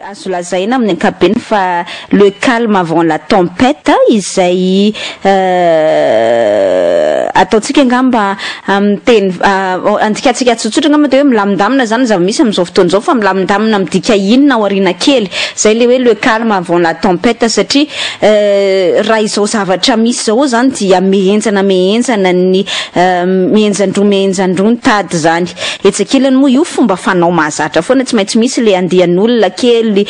azo lazaina amin'ny ankabeny fa le calme avant la tempête izay euh, ataontsika angamba Amin'ny teny andikantsika tsotsotra angamba dia hoe milamindamina izany ny zava-misy amin'izao fotoana izao, fa milamindamina midika inona aoriana kely? Izay ilay hoe le calme avant la tempête, satria raha izao zavatra misy izao izany dia mihenjana mihenjana ny mihenjan-droa mihenjan-droa ny tady izany. Etsy ankilany moa io fomba fanao mahazatra foana, tsy maintsy misy ilay andian'olona kely,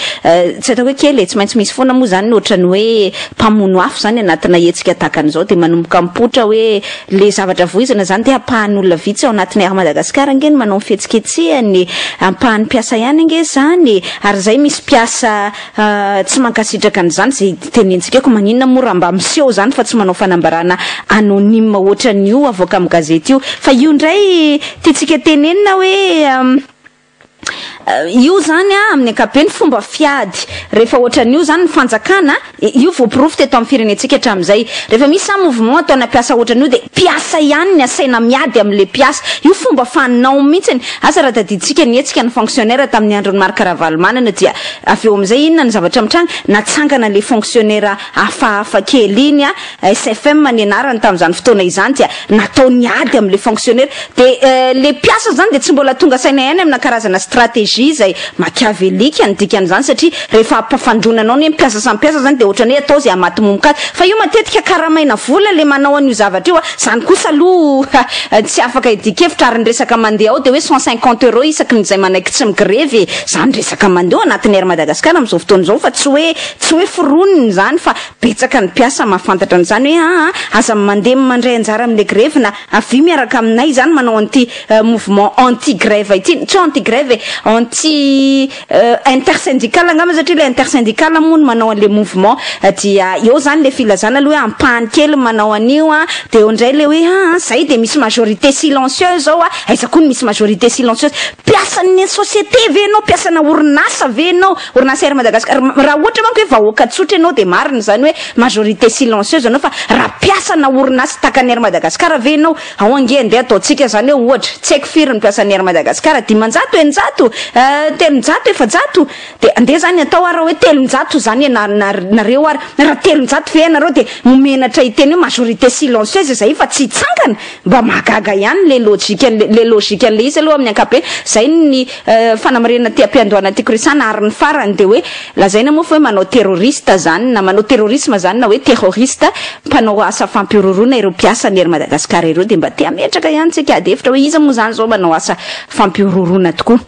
tsy ataoko hoe kely e, tsy maintsy misy foana moa izany ny ohatran'ny hoe mpamono afo izany anatina hetsika tahaka an'izao dia manomboka mipoitra hoe, Le zavatra voizina zany dia ampahany olona vitsy ao anatiny Air Madagascar ange no manao ny fihetsiketsehany e! Ampahany mpiasa ihany ange zany e! Ary zay misy mpiasa tsy mankasitraka an'izany ze tenentsika eo ka maninona moa raha mba miseho zany fa tsy manao fanambarana anonyme ohatran'io avoaka amin'ny gazety io! Fa io ndray tiantsika tenenina hoe. Io izany amin'ny ankapobeny fomba fiady. Rehefa ohatran'io izany ny fanjakana, io voaporofo teto amin'ny firenentsika hatramin'izay. Rehefa misy izany mouvement ataona mpiasa ohatran'io dia mpiasa ihany ny asaina miady amin'ilay mpiasa. Io fomba fanao mihitsy. Asa raha tadidintsika ny hetsika ny fonctionnaire tamin'ny andron'i Marc Ravalomanana dia avy eo amin'izay inona ny zavatra mitranga? Natsangana ilay fonctionnaire hafahafa kely iny. SFM ny anarany tamin'izany fotoana izany dia natao niady amin'ilay fonctionnaire dia ilay mpiasa izany dia tsy mbola tonga saina ihany amina karazana stratégie izay machiavelika ny dikan'izany satria rehefa ampafandroana anao ny hoe mpiasa samy mpiasa izany dia ohatran'ny hoe atao izay hamatomomok'azy fa io matetika karamaina vola ilay manao an'io zavatra io a izany kosa aloha tsy afaka hidikevitra ary ny resaka mandeha ao dia hoe cent cinquante euros isaky ny izay manaiky tsy migrevy e izany resaka mandeha ao anatin'ny air madagascar amin'izao fotoana izao fa tsy hoe tsy hoe foronina izany fa Betsaka ny mpiasa mahafantatra an'izany hoe aa aza mandemy mandray anjara amin'ilay grevy na avia miaraka aminay izany manao an'ity mouvement anti grève ity, tsy hoe anti grève e, anti intersyndical angamba satria ilay intersyndical moa no manao an'ilay mouvement dia eo izany ilay filazana aloha hoe ampahany kely ny manao an'io a, dia eo indray ilay hoe aa izay dia misy majorité silencieuse izao a, aiza koa no misy majorité silencieuse, mpiasan'ny société ve ianao, mpiasana orinasa ve ianao, Orinasa Air Madagascar, raha ohatra manko hoe vahoaka tsotra ianao dia marina izany hoe majorité silencieuse anao fa raha mpiasana orinasa takan'ny Air Madagascar ve ianao, ao ange andeha ataontsika izany hoe ohatra, tsy haiko firy ny mpiasan'ny Air Madagascar, dimanjato, eninjato, telonjato, efajato, dia andeha izany atao ary raha hoe telonjato izany ianareo ary raha telonjato ve ianareo dia ho menatra hiteny hoe majorité silencieuse izay fa tsy hitsangana? Mba mahagaga ihany le logique an'le le logique an'le izy aloha amin'ny ankapobeny, zay ny fanamarinana aty am-piandohana aty Christiana ary ny farany dia hoe lazaina moa fa hoe manao terroriste zany na manao terrorisme zany na hoe terroriste mpanao asa fampihorohoroana ireo mpiasa ny Air Madagascar ireo dia mba te hametraka ihany tsika ady hevitra hoe iza moa zany zao manao asa fampihorohoroana tokoa.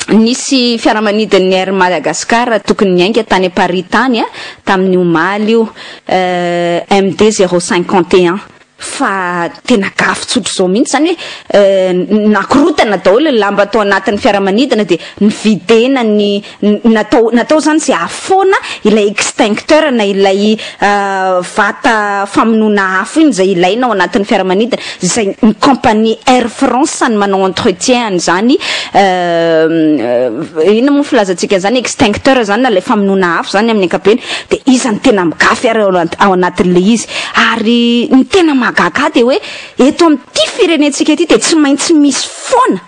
Nisy fiaramanidin'ny Air Madagascar tokony niainga tany Paris tany tamin'ny omaly io MD zéro cinquante et un fa tena gafy tsotra izao mihitsy izany hoe nakorotana daholo ny lamba tao anatin'ny fiaramanidina dia nividena ny natao izany izay ahafoana ilay extincteur na ilay vata famonoana afo iny izay ilaina ao anatin'ny fiaramanidina izay ny compagnie Air France ny manao entretien an'izany euh, inona moa filazantsika an'izany extincteur izany na ilay famonoana afo izany amin'ny ankapobeny dia iza no tena migafy ary ao anatin'ilay izy ary ny tena mahagaga dia hoe eto amin'ity firenentsika ity dia tsy maintsy misy foana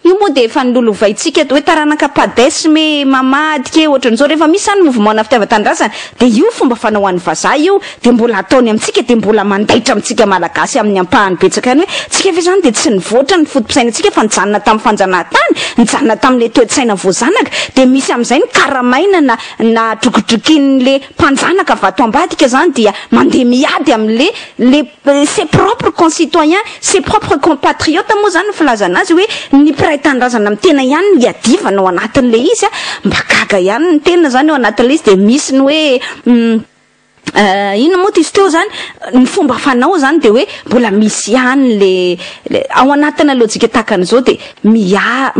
Io moa dia efa nololovaintsika hoe taranaka padesme, mamadika, ohatran'izao. Rehefa misy izany mouvement-na fitiavan-tanindrazana dia io fomba fanao any vazaha io dia mbola ataony amintsika dia mbola mandaitra amintsika malagasy amin'ny ampahany betsaka any hoe tsika ve izany dia tsy nivoatra ny foto-pisainantsika fa nijanona tamin'ny fanjanahantany, nijanona tamin'ilay toe-tsaina voazanaka dia misy amin'izay nokaramaina na na drokodrokin'ilay mpanjanaka vato ambadika izany dia mandeha miady amin'ilay ilay Ses propres concitoyens, ses propres compatriotes moa izany ny filazana azy hoe ny mpiray tanindrazana amin'ny tena ihany no iadivana ao anatin'ilay izy an! Mba gaga ihany ny tena izany ao anatin'ilay izy dia misy ny hoe inona moa ty izy teo izany? Ny fomba fanao izany dia hoe mbola misy ihany ilay ao anatina lojika tahaka an'izao dia miha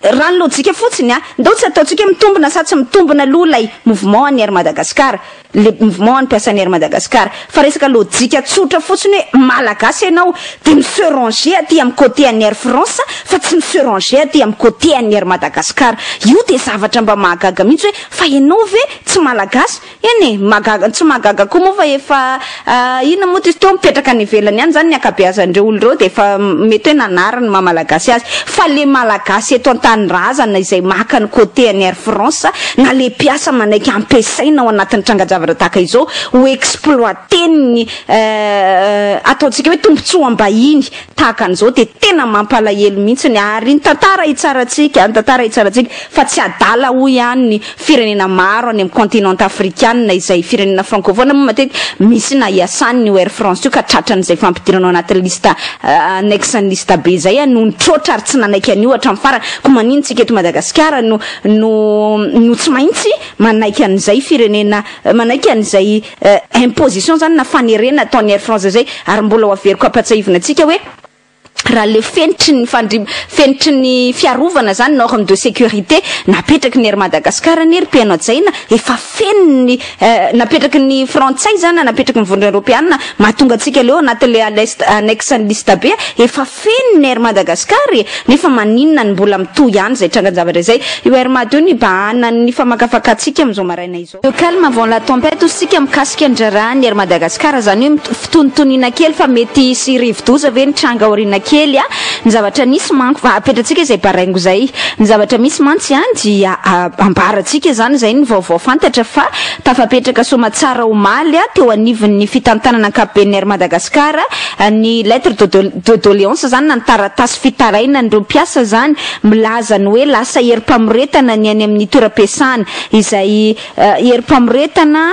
raha ny lojika fotsiny an! Ndao tsy ataontsika mitombina sa tsy mitombina aloha ilay mouvement an'i Air Madagascar. le mouvement ny mpiasan'ny Air Madagascar fa resaka lojika tsotra fotsiny hoe malagasy ianao dia mi se ranger aty amin'ny côté an'ny Air France fa tsy mi se ranger aty amin'ny côté an'ny Air Madagascar io dia zavatra mba mahagaga mihitsy hoe fa ianao ve tsy malagasy eny e mahagaga tsy mahagaga koa moa fa efa Ah inona moa izy teo mipetraka any ivelany any zany ny ankabeazan'ireo olo ireo dia efa mety hoe nanary ny maha malagasy azy fa le malagasy eto antanindrazana izay maka ny côté any air france na le mpiasa manaiky ampiasaina ao anatin'ny tranga-javatra tahaka izao ho exploiter ny eh ataontsika hoe tombotsoam-bahiny tahaka an'izao dia tena mampalahelo mihitsiny ary ny tantara hitsarantsika, ny tantara hitsarantsika fa tsy adala hoy ihany ny firenena maro any amin'ny continent afrikanina izay firenena francophone moa matetika misy na iasany io Air France io ka tratran'izay fampidirana ao anatin'ny liste annexe ny liste be izay no nitroatra ary tsy nanaiky an'io hatramin'ny farany koa manino tsika eto Madagasikara no no no tsy maintsy manaiky an'izay firenena manaiky an'izay imposition zany na fanerena ataon'ny Air France izay ary mbola ho averiko hampatsahivina antsika hoe raha le fenitry ny fandri fenitry ny fiarovana zany norme de sécurité napetraky ny Air Madagascar anie ry mpihaino hajaina efa feniny napetraky ny frantsay zany na napetraky ny vondrona eropeana mahatonga antsika leo anatin'le aleste annexe ny liste be efa feno ny Air Madagascar e nefa maninona ny mbola mitohy ihany izay trangan-javatra izay io Air Mad io nibahanan'ny famakafakantsika amin'izao maraina izao Le calme avant la tempête hoy isika mikasika ny raharahan' ny Air Madagascar, izany hoe fitonitoniana kely fa mety hisy rivodoza ve ny tranga aoriana kely a, ny zavatra nisy manko fa apetratsika izay baraingo izay, ny zavatra misy mantsy a dia ambarantsika izany, izay ny vaovao fantatra fa tafapetraka soamatsara omaly a teo anivon' ny fitantanana ankapoben' ny Air Madagascar ny lettre de de doléance izany na ny taratasy fitarainan'ireo mpiasa izany milaza ny hoe lasa herim-pamoretana ny any amin' ny toeram-piasana izay herim-pamoretana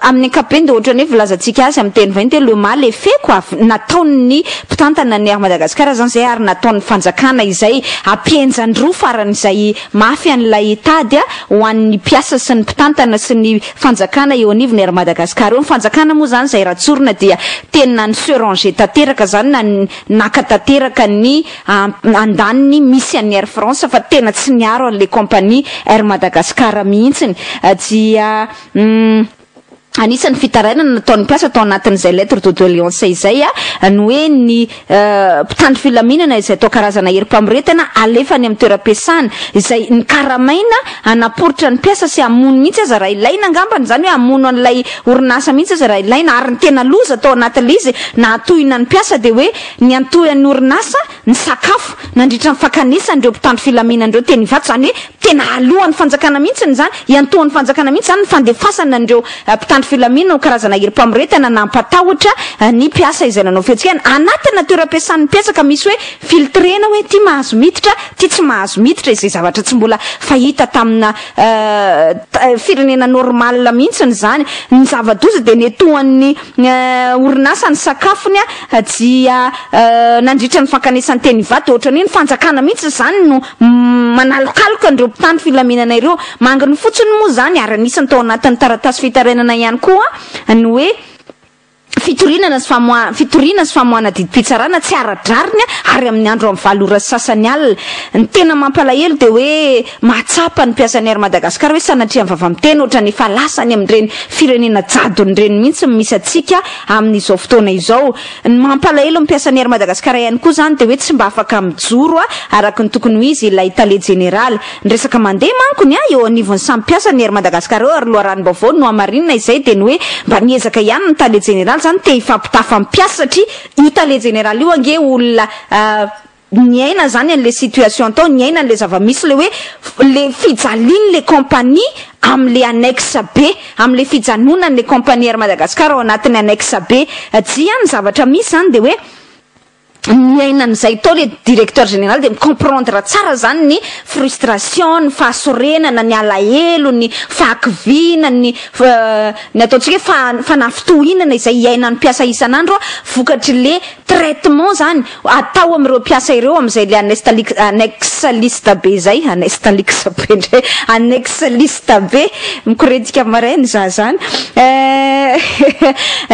amin'ny ankapobeny dia ohatran'ny hoe volazantsika azy amin'ny teny vahiny dia le mal est fait quoi, nataon'ny mpitantana ny Air Madagascar izany izay ary nataon'ny fanjakana izay ampihenjan-droa faran'izay mafy an'ilay tady ho an'ny mpiasa sy ny mpitantana sy ny fanjakana eo anivon'ny Air Madagascar eo, ny fanjakana moa izany izay ratsorina dia tena ni se ranger tanteraka izany na naka tanteraka ny An andaniny misy an'ny Air France fa tena tsy niaro an'ilay compagnie Air Madagascar mihitsiny dia umm anisan'ny fitarainana nataon'ny mpiasa tao anatin'izay lettre de doleance izay ny hoe ny mpitandro filaminana izay atao karazana herim-pamoretana alefa any amin'ny toeram-piasana izay nokaramaina hanaporitra ny mpiasa sy hamono mihitsy aza raha ilaina angambany izany hoe hamono an'ilay orinasa mihitsy aza raha ilaina ary ny tena loza tao anatin'ilay izy nahatohina ny mpiasa dia hoe Niantohy an'ny orinasa ny sakafo nandritra ny fakanesany ireo mpitandro filaminana ireo teny Ivato, izany hoe tena alohan'ny fanjakana mihitsy izany, iantohan'ny fanjakana mihitsy izany ny fandefasana an'ireo mpitandro filaminana ho karazana herim-pamoretana na hampatahotra ny mpiasa izay nanao fihetsikana anatina toeram-piasan'ny mpiasa ka misy hoe filtrena hoe ity mahazo miditra, ity tsy mahazo miditra, izay zavatra tsy mbola fahita tamina firenena normale mihitsy izany, ny zava-doza dia niantohan'ny. orinasa ny sakafony dia nandritra ny fankanesan-tena Ivato dia ohatran'ny hoe ny fanjakana mihitsy izany no manalokaloka an'ireo mpitandro filaminana ireo. Manginy fotsiny moa izany ary anisany tao anatin'ny taratasy fitarainana ihany koa ny hoe fitoriana sy famoahana fitoriana sy famoahana didim-pitsarana tsy ara-drariny ary amin'ny andro amin'ny valo ora sy sasany alina. Ny tena mampalahelo dia hoe Mahatsapa ny mpiasan'ny Air Madagascar hoe sanatria ny vava-miteny ohatran'ny efa lasa any amin'ireny firenena jadona ireny mihitsy ny misy antsika amin'izao fotoana izao. Ny mampalahelo ny mpiasan'ny Air Madagascar ihany koa izany dia hoe tsy mba afaka mijoro araka ny tokony ho izy ilay tale jeneraly. Ny resaka mandeha manko ny ahy eo anivon'ny samy mpiasan'ny Air Madagascar eo ary loharanom-baovao nohamarinina izay dia ny hoe mba niezaka ihany ny tale jeneraly izany te hifampitafa ny mpiasa satria io tale jeneraly io ange olona niaina zany anle situation tao, niaina anle zavamisy, le hoe le fijalianle compagnie amle annexe be, amle fijanonanle compagnie Air Madagascar ao anatin'ny annexe be. Dia ny zavatra misy zany dia hoe niaina an'izay tao le directeur général dia mi-comprendre tsara zany ny frustration, ny fahasorenana, ny alahelo, ny fahakiviana, ny ny ataontsika hoe fanafintohinana izay iainan'ny mpiasa isan'andro vokatry le traitement zany atao amin'ireo mpiasa ireo amin'izay ilay anestalic annexe liste be izay, anestalix be indray, annexe liste be, mikorentika marin ny za zany. Eh,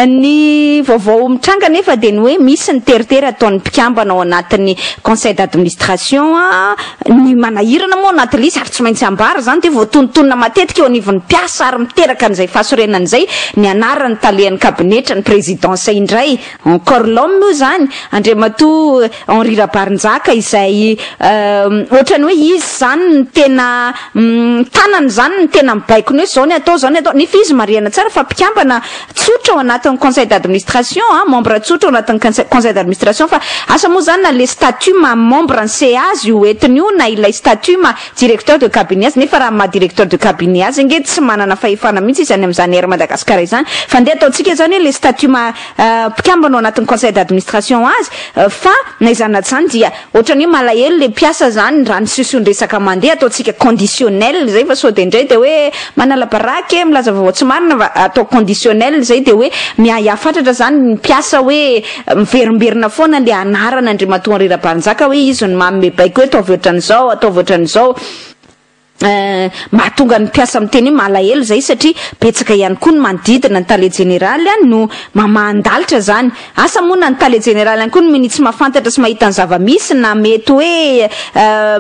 ny vaovao mitranga anefa dia ny hoe misy ny teritery ataon'ny mpikambana ao anatin'ny conseil d'administration a, ny manahirana moa anaty lisy ary tsy maintsy ambara izany dia voatonontonona matetika eo anivon'ny mpiasa ary miteraka an'izay fahasorenana izay ny anaran'ny talehan'ny kabinetra, ny présidence indray, Encore l'homme moa izany Andriamatoa Henri Rabarinjaka izay ohatrany hoe izy izany no tena tanany izany no tena mibaiko ny hoe izao ny atao izao ny atao nefa izy marihana tsara fa mpikambana tsotra ao anatin'ny conseil d'administration an, membre tsotra ao anatin'ny conseil d'administration fa asa moa izany na le statut maha membre ny CA azy io entiny io na ilay statut maha directeur de cabinet azy nefa raha maha directeur de cabinet azy ange tsy manana fahefana mihitsy izy any amin'izany Air Madagascar izany fa ndeha ataontsika izany hoe le statut maha mpikambana ao anatin'ny conseil d'administration azy fa na izany na tsy izany dia ohatrany hoe malahelo le mpiasa izany raha ny siosion-dresaka mandeha ataontsika conditionnel izay fa sao dia indray dia hoe manala baraky e milaza vaovao tsy marina fa atao conditionnel izay dia hoe miahiahy fatratra izany ny mpiasa hoe miverimberina foana le anaran'Andriamatoa Henri Rabarinjaka hoe izy no manome baiko eto avy ohatran'izao ataovy ohatran'izao Mahatonga ny mpiasa miteny hoe malahelo izay satria betsaka ihany koa ny manodidina ny tale jeneraly no mamahan-dalitra izany. Asa moa na ny tale jeneraly ihany koa no minia tsy mahafantatra sy mahita ny zava-misy na mety hoe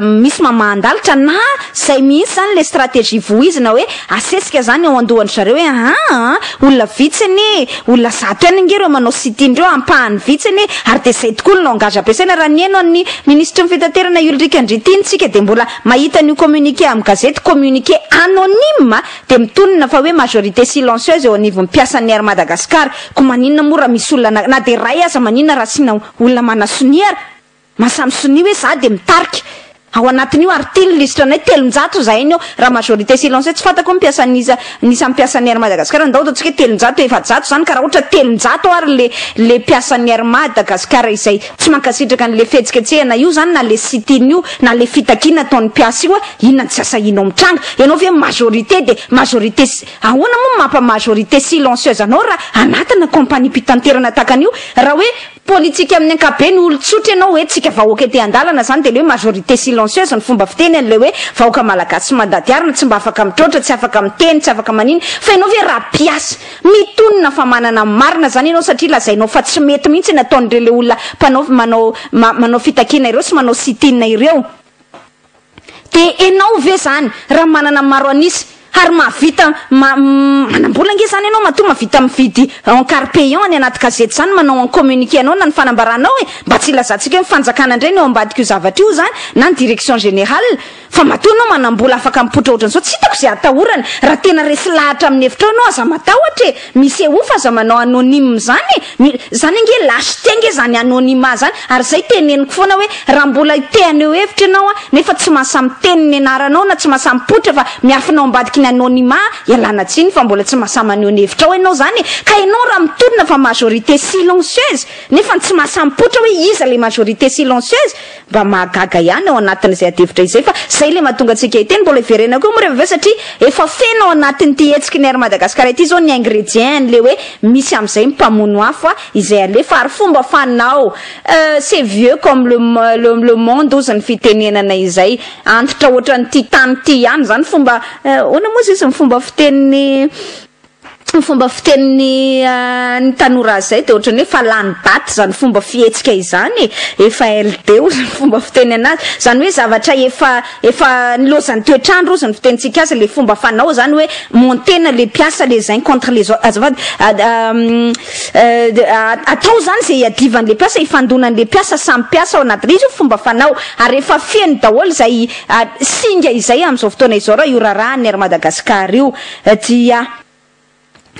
misy mamahan-dalitra na izay mihitsy izany ilay stratégie vohizina hoe asesika izany ao an-dohan-dry zareo hoe aa olona vitsy anie, olona zato ihany ange ireo manao sit-in ireo, ampahany vitsy anie ary dia izay tokoa ny langage ampiasaina. Raha ny heno an'ny minisitry ny fitaterana i Ulrick Andriantiana isika dia mbola Mahita an'io communiqué amin'ny gazety communiqué anonyme dia mitonona fa hoe majorité silencieuse eo anivon'ny mpiasan'ny Air Madagascar. Koa maninona moa raha misy olona na dia iray aza maninona raha asiana olona manasonia ary? Mahasahy misonia hoe za dia mitarika ao anatin'io ary ity ny lisitra anay telonjato izahay ny ao raha majorité silencieuse tsy fantako hoe mpiasa an'isa an'isa mpiasan'ny Air Madagascar ndao ataontsika hoe telonjato efajato izany ka raha ohatra telonjato ary le le mpiasan'ny Air Madagascar izay Tsy mankasitraka an'le fihetsiketsehana io zany na le sit-in io na le fitakiana ataon'ny mpiasa io a! Inona no tsy asahinao mitranga? Ianao ve majorité de majorité si-? Ahoana moa no mampa majorité silencieuse anao raha anatana kaompaniam-pitanterana takan'io? Raha hoe politika amin'ny ankapobeny olon-tsotra ianao hoe tsika vahoaka ety an-dalana zany de le hoe majorité silencieuse no fomba fiteny an'le hoe vahoaka malagasy sy mandady arina tsy mba afaka mitroatra, tsy afaka miteny, tsy afaka manino. Fa ianao ve raha mpiasa Mitonona fa manana ny marina zany ianao satria lazainao fa tsy mety mihitsy ny ataon'ireo le olona mpanao manao manao fitakiana ireo sy manao sit in ireo de enao ve zany raha manana maro an'isa ary mahavita ma manambola ange zany ianao matoa mavita mividy en car payant any anaty gazety zany manao en communiqué anao na ny fanambaranao e mba tsy ilazantsika hoe ny fanjakana indray no eo ambadik'io zavatra io zany na ny direction générale Fa matoa ianao manambola afaka mipoitra ohatran'izao tsy hitako izay atahorany raha tena resy lahatra amin'ny hevitrao ianao aza matahotra e! Misy eof aza manao anonyme izany e! Mi, izany ange lâcheté ange izany anonymat izany ary izay teneniko foana hoe raha mbola te haneho hevitra ianao a nefa tsy mahasahy miteny ny anaranao na tsy mahasahy mipoitra fa miafina ao ambadiky ny anonymat ialana tsiny fa mbola tsy mahasahy maneho ny hevitrao ianao izany e! Ka ianao raha mitodina fa majorité silencieuse nefa tsy mahasahy mipoitra hoe iza ilay majorité silencieuse Mba mahagaga ihany ao anatin'izay adihevitra izay fa izay ilay mahatonga antsika hiteny, mbola hiverenako eo moa rehefa avy eo satria efa feno ao anatin'ity hetsiky ny Air Madagascar ity izao ny ingrédients an'ilay hoe misy amin'izay ny mpamono afo izay alefa ary fomba fanao c'est vieux comme le le le monde ozy ny fitenenana izay antitra ohatran'ity tany ity ihany izany fomba ahoana moa izy izy ny fomba fitenin'ny Tsy ny fomba fitenin'ny ny tanora azy izay dia ohatran'ny hoe fa lany baty izany fomba fihetsika izany e! Efa LD ozy ny fomba fiteny anazy. Izany hoe zavatra efa efa nilaozan'ny toetr'andro ozy ny fitenintsika azy ilay fomba fanao izany hoe montena ilay mpiasa les uns contre les autres. Azafady atao izany izay hiadivan'ilay mpiasa, hifandonan'ilay mpiasa samy mpiasa ao anaty izy io fomba fanao ary efa feno daholo izay singa izay amin'izao fotoana izao raha io raharahan'ny Air Madagascar io. Tsia.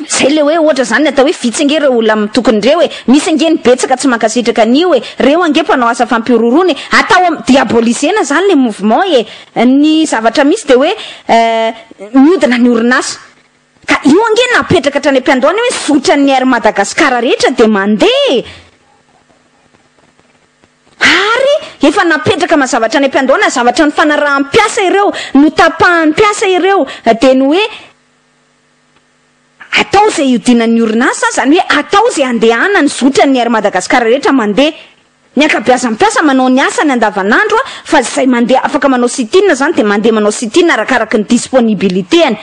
Zay le hoe ohatra zany ny atao hoe vitsy ange reo olona mitokony reo e, misy ange ny betsaka tsy mankasitraka anio e, reo ange mpanao asa fampihorohoroana e, atao am diabolisena zany le mouvement e, ny zavatra misy de hoe miodina ny orinasa ka io ange napetraka hatrany ampiandohana io hoe zotran'ny Air Madagascar rehetra de mandeha e. Ary efa napetraka mazava hatrany am-piandohana zavatra nifanaraham-piasa ireo, notapahan'ny mpiasa ireo, dia ny hoe atao izay hiodinan'ny orinasa, izany hoe atao izay handehanan'ny zotran'ny Air Madagascar rehetra mandeha. Ny ankabeazan'ny mpiasa manao ny asany andavanandro fa izay mandeha afaka manao sit-in izany dia mandeha manao sit-in arakaraky ny disponibilité-ny.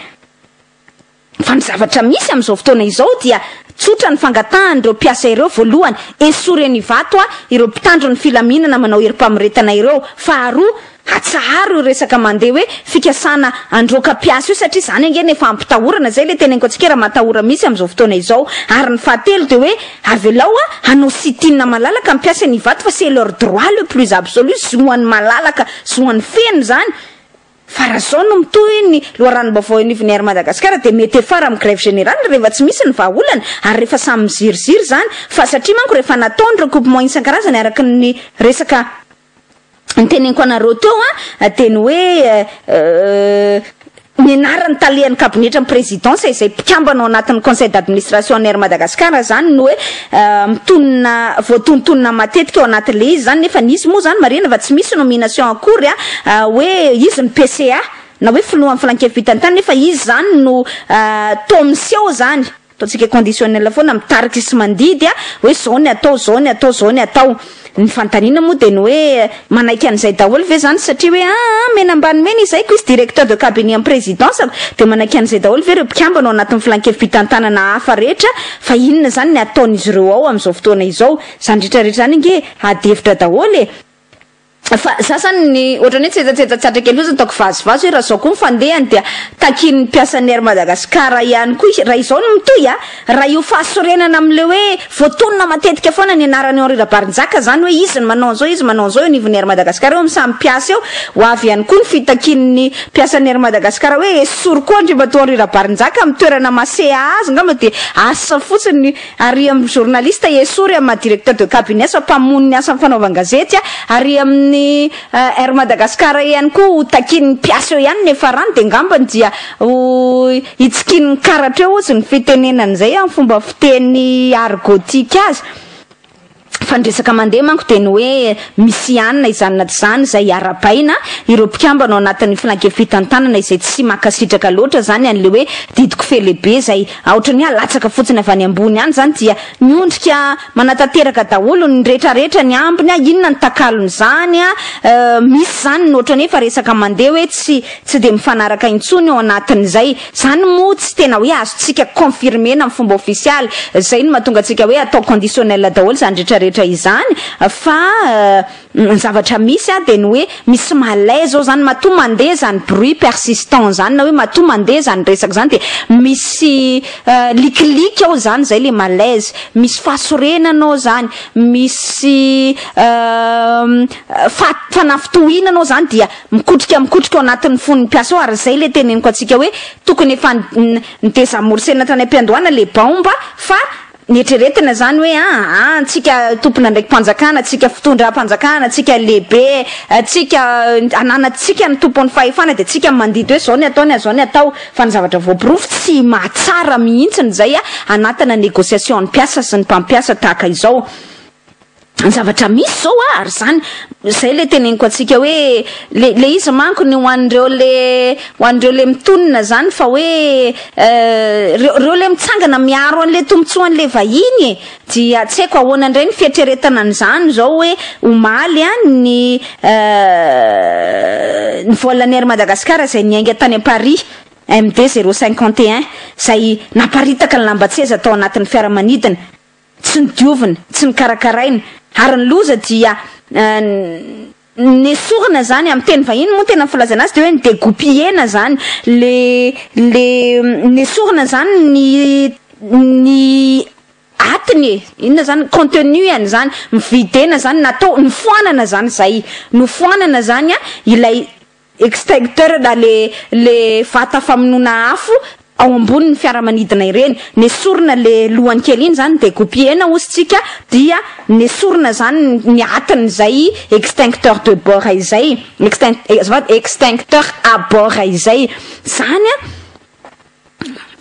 Fa ny zavatra misy amin'izao fotoana izao dia tsotra ny fangatahan'ireo mpiasa ireo voalohany esory eny Ivato a ireo mpitandro ny filaminana manao herim-pamoretana ireo, faharoa atsaharo io resaka mandeha hoe fikasana androaka mpiasa io satria izany ange no efa hampitahorana, izay ilay teneniko antsika raha matahora misy amin'izao fotoana izao, ary ny fahatelo dia hoe avelao a hanao sit-in malalaka ny mpiasa eny Ivato fa c'est leur droit le plus absolu, zoany malalaka, zoany feno izany. Fa raha izao no mitohy ny loharanom-baovao eo anivon'ny Air Madagascar dia mety hiafara amin'ny grève générale rehefa tsy misy ny vahaolana ary rehefa samy miziriziry izany fa satria manko rehefa natao ny recoupement isan-karazany araka ny resaka noteneniko anareo teo dia ny hoe ny anaran'ny talehan'ny kabinetran'ny présidence izay mpikambana ao anatin'ny conseil d'administration an'ny Air Madagascar izany no hoe mitonona voatontonona matetika ao anaty le izy izany nefa nisy moa izany marihina fa tsy misy nomination akory a hoe izy ny PCA na hoe filohan'ny filankevi-pitanitany nefa izy izany no toa miseho izany, ataontsika conditionnel foana mitarika sy mandidy a hoe izao ny atao, izao ny atao, izao ny atao. Ny fanontaniana moa dia ny hoe, manaiky an'izay daholo ve izany satria hoe aa mena ambany mena izay ko izy directeur de cabinet an'i prezidansako dia manaiky an'izay daholo ve ireo mpikambana ao anatin'ny filankevi-pitantanana hafa rehetra fa inona izany ny ataon'izy ireo ao amin'izao fotoana izao? Izany rehetrarehetra izany ange ady hevitra daholo e! Fa za zany ny ohatrany hoe tsetsatsetsa tsy atrikay loatra ataoko vazivazy hoe raha izao koa ny fandehany dia takian'ny mpiasan'ny Air Madagascar ihany koa raha izao no mitohy a! Raha io fahasorenana amin'ilay hoe voatonona matetika foana ny anaran'i Henri Rabarinjaka, izany hoe izy no manao an'izao, izy no manao an'izao eo anivon'ny Air Madagascar eo amin'ny samy mpiasa eo, ho avy ihany koa ny fitakian'ny mpiasan'ny Air Madagascar hoe esory koa andriamatoa Henri Rabarinjaka amin'ny toerana maseha azy, angamba dia asa fotsiny ny ary amin'ny journaliste esory amin'ny maha directeur de cabinet sa mpamono ny asan'ny fanaovan-gazety ary amin'ny Air Madagascar ihany koa ho takian'ny mpiasa eo ihany ny hiafarany dia angambany dia ho Hitsikinin'ny karatra eo hozy ny fitenenana izay amin'ny fomba fiteny argotique azy, fa ny resaka mandeha manko dia ny hoe misy ihany na izany na tsy izany izay arabaina ireo mpikambana ao anatin'ny filanke fitantanana izay tsy mankasitraka loatra izany an'ilay hoe didy kofehy lehibe izay aotra ny hoe alatsaka fotsiny avy any ambony any izany dia miondrika Manatanteraka daholo ny retraretra ny ambiny a, inona ny takalon'izany a, misy zany ny otrany efa resaka mandeha hoe tsy tsy dia mifanaraka intsony ao anatin'izay, zany moa tsy tena hoe azontsika confirmer-na amin'ny fomba ofisialy, zay no mahatonga antsika hoe atao conditionnel daholo zany retraretra izany fa. Ny zavatra misy a dia ny hoe misy malaise ao zany matoa mandeha izany bruit persistant izany na hoe matoa mandeha izany resaka izany dia misy likiliky ao izany izay ilay malaise, misy fahasorenana ao izany, misy fa- fanafintohinana ao izany dia mikotrika mikotrika ao anatin'ny fon'ny mpiasa ao ary izay ilay teneniko antsika hoe tokony efa ni- ni- ni-desamorcena tany am-piandohana ilay baomba fa Nieritreretina izany hoe aa antsika tompon'andraiki-panjakana, antsika fitondram-panjakana, antsika lehibe, antsika ananantsika ny tompon'ny fahefana dia antsika mandidy hoe izao ny atao ny azao ny atao fa ny zavatra voaporofo tsy mahatsara mihitsy ny izay hanatana negociation ny mpiasa sy ny mpampiasa tahaka izao. zavatra misy zao a ary zany zay le teneniko atsika hoe le le izy manko ny ho an'ireo le ho an'ireo le mitonona zany fa hoe reo reo le mitsangana miaro an'le tombotsoan'le vahiny e dia tsy haiko ahoana indray ny fieritreretana an'izany zao hoe omaly a ny ny voalan'ny air madagasikara zay niainga tany am paris MD zéro cinquante et un zay naparitaka ny lambatseza tao anatin'ny fiaramanidina tsy nodiovina, tsy nokarakaraina, ary ny loza dia nesorina izany, amin'ny teny vahiny moa ny tena filazana azy dia hoe ni-degoupiller-na izany, le le nesorina izany ny ny atiny e, inona izany, contenu an'izany, mi-vider-na izany, natao, nofoanana izany izay, nofoanana izany ilay extincteur na le le vata famonoana afo ao ambony ny fiaramanidina ireny, nesorina le lohany kely iny zany de gopiena ozy tsika dia nesorina zany ny atiny izay extincteur de bord izay extin azafady extincteur à bord izay zany a,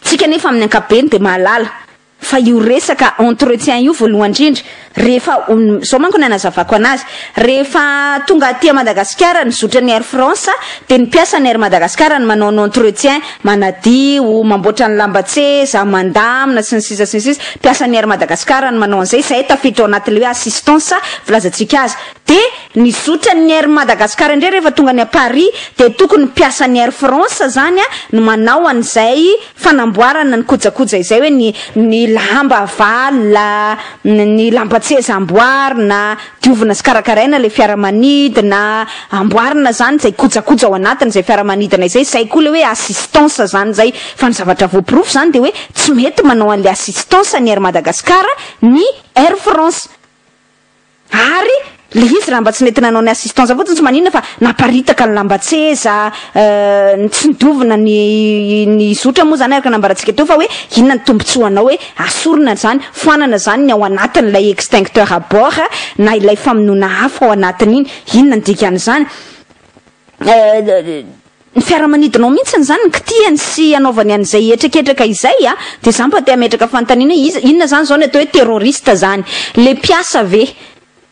tsika nefa amin'ny ankapobeny de mahalala. Fa io resaka entretien io voalohany indrindra, rehefa, izao manko no anazavako an'azy, rehefa tonga aty Madagasikara ny zotran'ny Air France dia ny mpiasan'ny Air Madagascar no manao ny entretien, manadio, mamboatra ny lamban-tseza, mandamina, sy ny sisa sy ny sisa, mpiasan'ny Air Madagascar no manao an'izay, izay tafiditra ao anatin'ilay hoe assistance filazantsika azy. Dia ny zotran'ny Air Madagascar indray rehefa tonga any Paris dia tokony ny mpiasan'ny Air France izany no manao an'izay fanamboarana ny kojakoja izay hoe ny ny lamba avalona, ny lamban-tseza amboarina, diovina sy karakaraina ilay fiaramanidina, amboarina izany izay kojakoja ao anatin'izay fiaramanidina izay, izay koa ilay hoe assistance izany izay, fa ny zavatra voaporofo izany dia hoe tsy mety manao an'ilay assistance ny Air Madagascar ny Air France. Ary le izy raha mba tsy nety nanao ny assistance fotsiny tsy maninona fa naparitaka ny lambatseza euh, nitsindovina ny ny zotra moa zany araka ny nambarantsika teo fa hoe inona ny tombotsoanao hoe asorina zany foanana zany ny ao anatin'ilay extincteur à bord na ilay famonoana afo ao anatin'iny, inona ny dikan'izany? Euh. Ny fiaramanidinao mihitsiny izany no kitihany sy anaovany an'izay hetraketraka izay a! Dia za mba te hametraka fanontaniana hoe iza, inona izany izao ny atao hoe terroriste izany? Ilay mpiasa ve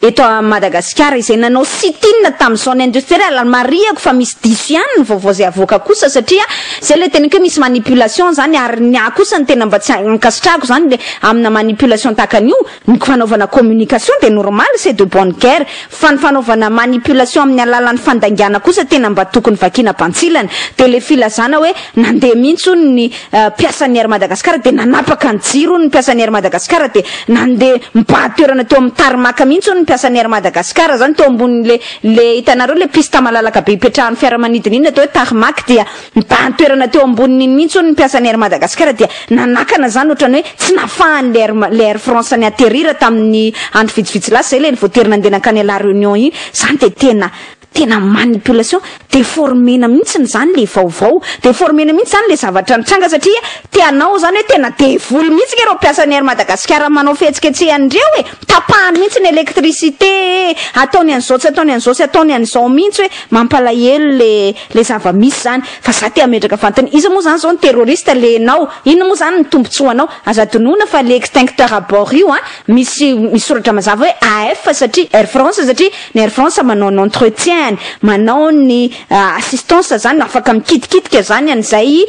eto a Madagasikara izay nanao sit in tamin'ny zone industrielle? Ary marihako fa misy diso ihany ny vaovao izay avoaka kosa satria izay ilay teniko hoe misy manipulation izany ary ny ahy kosa ny tena mba tsy ankasitrahako izany aminà manipulation tahaka an'io, Ny fanaovana communication dia normal, c'est de bonne guerre, fa ny fanaovana manipulation amin'ny alalan'ny fandaingana kosa tena mba tokony vakiana bantsilana, dia ilay filazana hoe nandeha mihitsy hono ny mpiasan'ny Air Madagascar dia nanapaka ny jiro hono ny mpiasan'ny Air Madagascar dia nandeha mibahady toerana teo amin'ny tarmac mihitsy hono ny mpiasan'ny Air Madagascar izany teo ambonin'ilay ilay hitanareo ilay piste malalaka be ipetrahan'ny fiaramanidina iny atao hoe tarmac dia Nibahan-toerana teo amboniny iny mihitsy hono ny mpiasan'ny Air Madagascar dia nanakana izany ohatran'ny hoe tsy nahafahan'ilay Air, ilay Air France ni atterrir tamin'ny andro vitsivitsy lasa izay ilay nivoatery nandeha nankany La Réunion iny. Izany dia tena, tena manipulation, déformer-na mihitsy izany ilay vaovao, déformer-na mihitsy izany ilay zavatra nitranga satria te hanao izany hoe tena devoly mihitsy nge ireo mpiasan'ny Air Madagascar manao fihetsiketsehana ireo e! Tapahany mihitsy ny électricité e! Ataony an'izao tsy ataony an'izao tsy ataony an'izao mihitsy hoe mampalahelo ilay le zava misy zany fa za te hametraka fantany iza moa zany zao ny terroriste le enao inona moa zany ny tombotsoa anao aza adinoina fa le extincteur à bord io an misy misy soratra mazava hoe AF satria air France satria ny air France manao ny entretien ny manao ny assistance zany afaka mikitikitika zany an'izay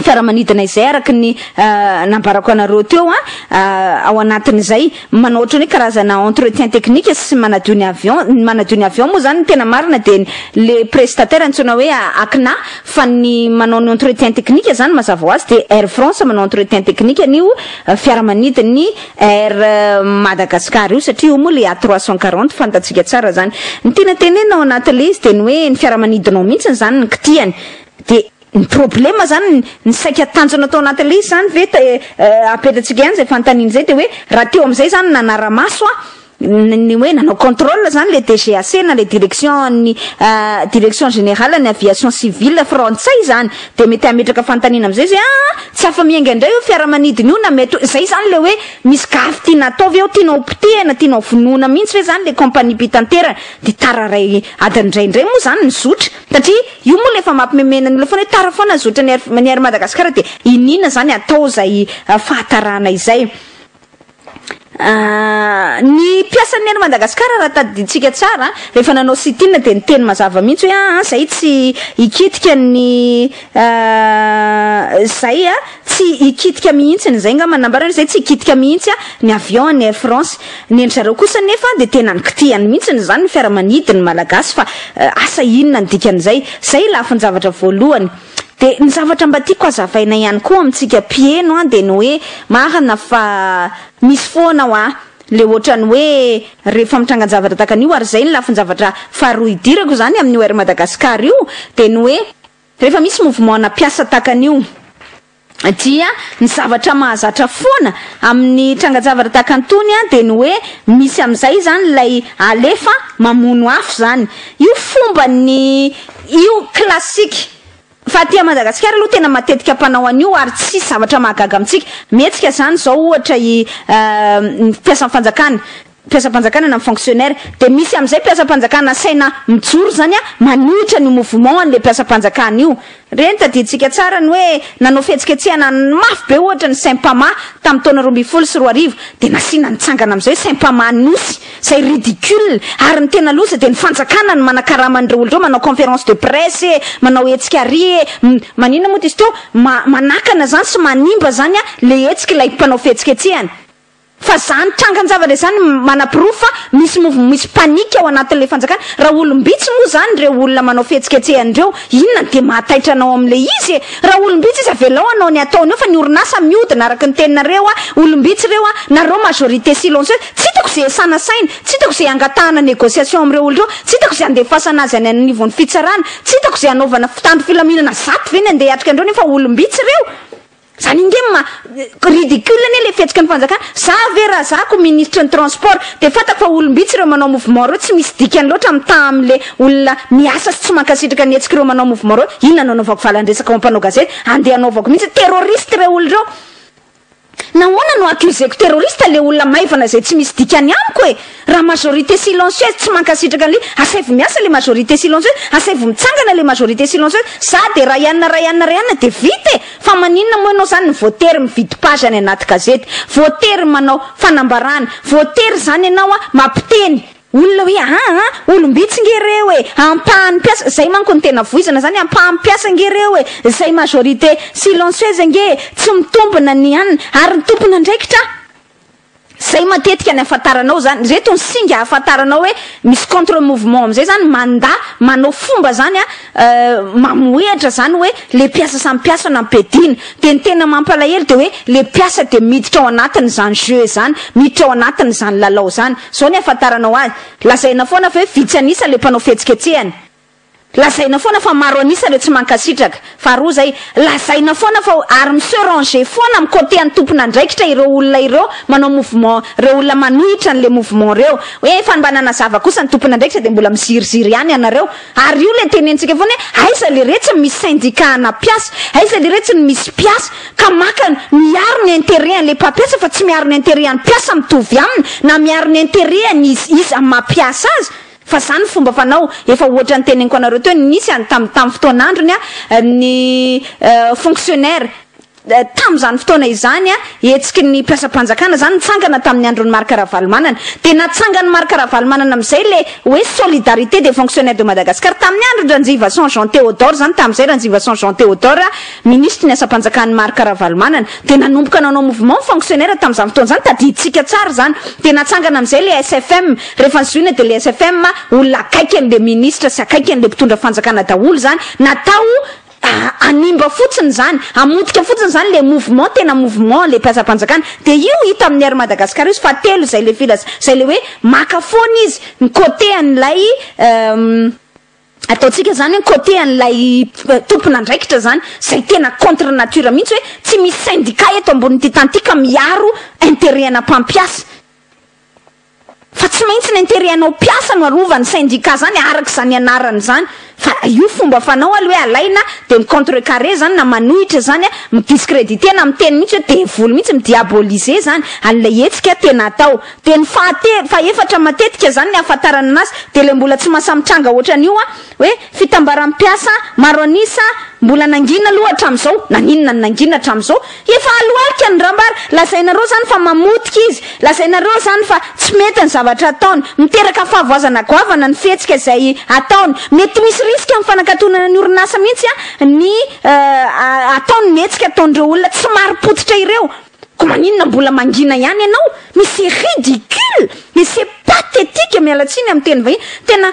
fiaramanidina izay araka ny nambarako anareo teo ao anatin'izay manao ohatran'ny hoe karazana entretien technique sy manadio ny avion ny manadio ny avion moa zany ny tena marina dia le prestataire antsoina hoe ACNA fa ny manao ny entretien technique zany mazava ho azy dia Air France manao entretien technique an'io fiaramanidin'ny Air Madagascar io satria io moa le A340 fantatsika tsara zany ny tena tenenina ao anatin'le izy dia ny hoe ny fiaramanidinao mihitsy zany ny kitihany dia Ny problema zany ny saika tanjona tao anatin'ilay izy zany ve apetratsika ihany zay fanontaniana izay dia hoe raha teo amin'izay zany nanara-maso a ny hoe nanao contrôle zany le DGAC na le direction ny direction générale ny aviation civile frantsay zany dia mety hametraka fanontaniana amin'izay zay a tsy afa-miainga indray io fiaramanidina io na mety hoe izay zany le hoe misy gafy tiana atao ve ao tianao potehina tianao vonoina mihitsy ve zany le compagnie mpitanterana dia tararay adiny indray indray moa zany ny zotra Satria io moa le efa mampimemena ny olona foana hoe tara foana zotra ny Air ny Air Madagascar dia iniana zany atao izay fahatarana izay. Ny mpiasan'ny Air Madagascar raha tadidintsika tsara rehefa nanao sit in dia niteny mazava mihitsy hoe aa zay tsy hikitika ny zay a. Tsy hikitika mihitsy ny zay ngamba nambarany zay tsy hikitika mihitsy ny avion an'i Air France. Ny an-dry zareo kosa nefa dia tena nikitihany mihitsy ny zany ny fiaramanidy ny malagasy fa asa inona ny dikan'izay. Zay i lafin-javatra voalohany. Dia ny zavatra mba tiako hazavaina ihany koa amintsika mpiheno an dia ny hoe marina fa. Misy foana hoa le ohatran'ny hoe rehefa mitrangan-javatra tahaka an'io ary zay ny lafin-javatra faharoa idirako zany amin'io Air Madagascar io dia ny hoe. Rehefa misy mouvement na mpiasa tahaka an'io dia ny zavatra mahazatra foana amin'ny tranga-javatra tahaka an'itony dia ny hoe misy amin'izay izany ilay alefa mamono afo izany. Io fomban'ny io classique fa aty Madagasikara aloha tena matetika mpanao an'io ary tsy zavatra mahagaga amintsika. Mihetsika izany izao ohatra i ny mpiasan'ny fanjakana mpiasam-panjakana na ny fonctionnaire dia misy amin'izay mpiasam-panjakana asaina mijoro izany a manohitra an'io mouvement an'ilay mpiasam-panjakana io ireny tadidintsika tsara ny hoe nanao fihetsiketsehana mafy be ohatra ny sympama tamin'ny taona roa ambin'ny folo sy roa arivo dia nasiana nitsangana amin'izay sympama nosy izay ridicule ary ny tena loza dia ny fanjakana no manakarama an'ireo olona ireo manao conférence de presse e manao hetsika ary e maninona moa dia izy teo manakana izany sy manimba izany a ilay hetsika ilay mpanao fihetsiketsehana Fa zany trangan javatra zany manaporofo fa misy mouvement misy panique ao anatin le fanjakana raha olombitsy moa zany ireo olona manao fihetsiketsehana ireo inona no dia mahataitra anao amin le izy e raha olombitsy izy avelao anao ny ataony eo fa ny orinasa miodina araka ny teninareo a olombitsy ireo a nareo majorité silencieuse tsy itako ze esana saina tsy itako ze angatahana negociation am reo olona reo tsy itako ze andefasana azy any anivon fitsarana tsy itako ze anaovana mpitandro filaminana zato ve ny andeha hiatrika andreo nefa olombitsy ireo Zany ange ma ridicule anie le fihetsikany fanjakana, za ve ra zako ministry ny transport de fantako fa olombitsy reo manao mouvement reo tsy misy dikany loatra mitaha amle olona miasa sy tsy mankasitraka ny hetsiky reo manao mouvement reo, inona no anaovako valandresaka ho ampanao gazety ande anaovako mihitsy, terroriste reo olona reo, nahoana no accuseko terroriste le olona maivana zay tsy misy dikany amiko e. Raha majorité silencieuse tsy mankasitraka an'le asaivo miasa le majorité silencieuse, asaivo mitsangana le majorité silencieuse, za de Raianna Raianna Raianna de vita e! Fa maninona moa ianao zany voatery mividy page any anaty gazety, voatery manao fanambarana, voatery zany ianao a mampiteny olona hoe aa olom-bitsy nge reo e! Ampahan'ny mpiasa, zay manko no tena voizana zany, ampahan'ny mpiasa nge reo e! Zay majorité silencieuse nge e! Tsy mitombina ny ann, ary ny tompon'andraikitra a! Zay matetika ny afantaranao zany. Reto ny singa ahafantaranao hoe misy contre mouvement amizay zany manda manao fomba zany a mamohehatra zany hoe le mpiasa samy mpiasa no ampiadiana. De ny tena mampalahelo de hoe le mpiasa de miditra ao anatiny zany jeu zany, miditra ao anatiny zany lalao zany. Zao ny afantaranao azy. Lazaina foana fa hoe vitsy anisa le mpanao fihetsiketsehana. Lazaina foana fa maro an'isa ireo tsy mankasitraka. Faharoa izay, lazaina foana fa armes se ranger foana am côté an tompon'andraikitra ireo olona ireo manao mouvement, ireo olona manohitra an'le mouvement ireo. Hoe efa mba nanazava kosa ny tompon'andraikitra dia mbola miziriziry ihany ianareo. Ary io ilay tenentsika foana hoe aiza le re tsy ny misy syndicat ana mpiasa, aiza le re tsy ny misy mpiasa ka maka miaro ny intérêt an'le mpampiasa fa tsy miaro ny intérêt an'ny mpiasa mitovy aminy na miaro ny intérêt an'iza iza maha mpiasa azy. Fa zany ny fomba fanao, efa ohatran'ny teneniko anareo teo, nisy an tam tam fotoan'androny an ny fonctionnaire tam'zany fotoana izany an hetsiky ny mpiasam-panjakana zany nitsangana tamin'ny andron'i Marc Ravalomanana dia natsangan'i Marc Ravalomanana am'zay le hoe solidarité des fonctionnaires de Madagascar tamin'ny andron'i Ranjivason Jean Théodore zany tam'zay Ranjivason Jean Théodore ministre ny asam-panjakan'i Marc Ravalomanana dia nanomboka nanao mouvement ny fonctionnaire tam'zany fotoana zany tadidintsika tsara zany dia natsangana am'zay le SFM Rehefa zohina dia le SFM olona akaiky anle ministra sy akaiky anle mpitondra fanjakana daholo zany, natao hanimba fotsiny zany, hamotika fotsiny zany le mouvement tena mouvement le mpiasam-panjakana, dia io hita amin'ny Air Madagascar io sy fahatelo zay le filaza, zay le hoe maka foana izy ny côté an'ilay ataontsika zany hoe côté an'ilay tompon'andraikitra zany, zay tena contre nature mihitsy hoe tsy misy syndicat eto ambonin'ity tany ity ka miaro interet ana mpampiasa. Fa tsy maintsy n'intérêt anao mpiasa no arovany syndicat zany araka izany anarany zany fa raha io fomba fanao alo hoe alaina de mi contre carré zany na manohitra zany mi discrediter na miteny mihitsy hoe devoly mihitsy mi diaboliser zany an'ilay hetsika tena atao de ny fahatelo fahefatra matetika zany ny ahafantarana anazy de le mbola tsy mahasahy mitranga otran'io a Hoe fitambaram-piasa maro an'isa mbola nangina aloha hatramin'izao, naninona no nangina hatramin'izao? Efa alohalika ny rambara, lazainareo izany fa mamotika izy, lazainareo izany fa tsy mety ny zavatra ataony, miteraka fahavoazana goavana ny fihetsika izay ataony, mety misy risika amin'ny fanakatonana ny orinasa mihitsy ny ataony ny hetsika ataon'ireo olona tsy marim-pototra ireo. Ko maninona mbola mangina ihany ianao mais c'est ridicule mais c'est pathétique miala tsiny amin'ny teny vahiny tena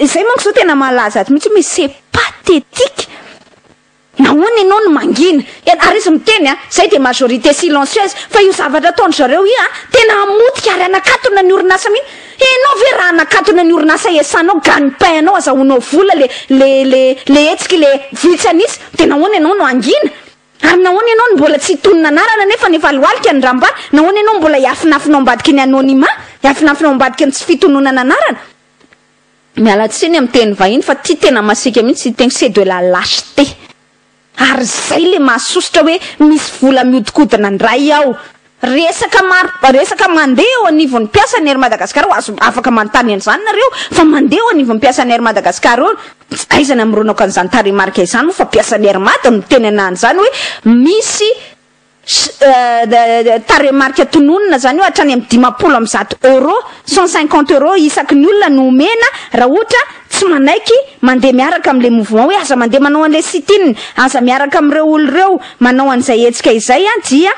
izay manko izao tena mahalaza ato mihitsy mais c'est pathétique nahoana ianao no mangina ary izy miteny a izay dia majorité silencieuse fa io zavatra ataondry zareo io a tena hamotika ary hanakatona ny orinasa mihitsy ianao ve raha hanakatona ny orinasa iasanao gagne pain anao azahoanao vola le le le le hetsiky le vitsy an'isa dia nahoana ianao no hangina Ary nahoana ianao no mbola tsy hitonona anarana nefa ny efa lohalika ny rambara? Nahoana ianao mbola hiafinafina ao ambadiky ny anonymat? Hiafinafina ao ambadiky ny tsy fitononana anarana? Miala tsiny amin'ny teny vahiny fa ity tena masiaka mihitsy ity teny c'est de la lâcheté. Ary izay ilay mahasosotra hoe misy vola mihodinkodina ndray ao. Resaka maro resaka mandeha eo anivon'ny mpiasan'ny Air Madagascar eo, azo afaka manontany an'izany nareo fa mandeha eo anivon'ny mpiasan'ny Air Madagascar eo aiza ny hamoronako an'izany tarehimarika izany moa fa mpiasan'ny Air Mada no miteny ana an'izany hoe misy tarehimarika tononina izany hoe hatrany amin'ny dimampolo amby zato euros, cent cinquante euros, isaky ny olona no omena raha ohatra tsy manaiky mandeha miaraka amin'ilay mouvement hoe aza mandeha manao an'ilay sit-in, aza miaraka amin'ireo olona ireo manao an'izay hetsika izay dia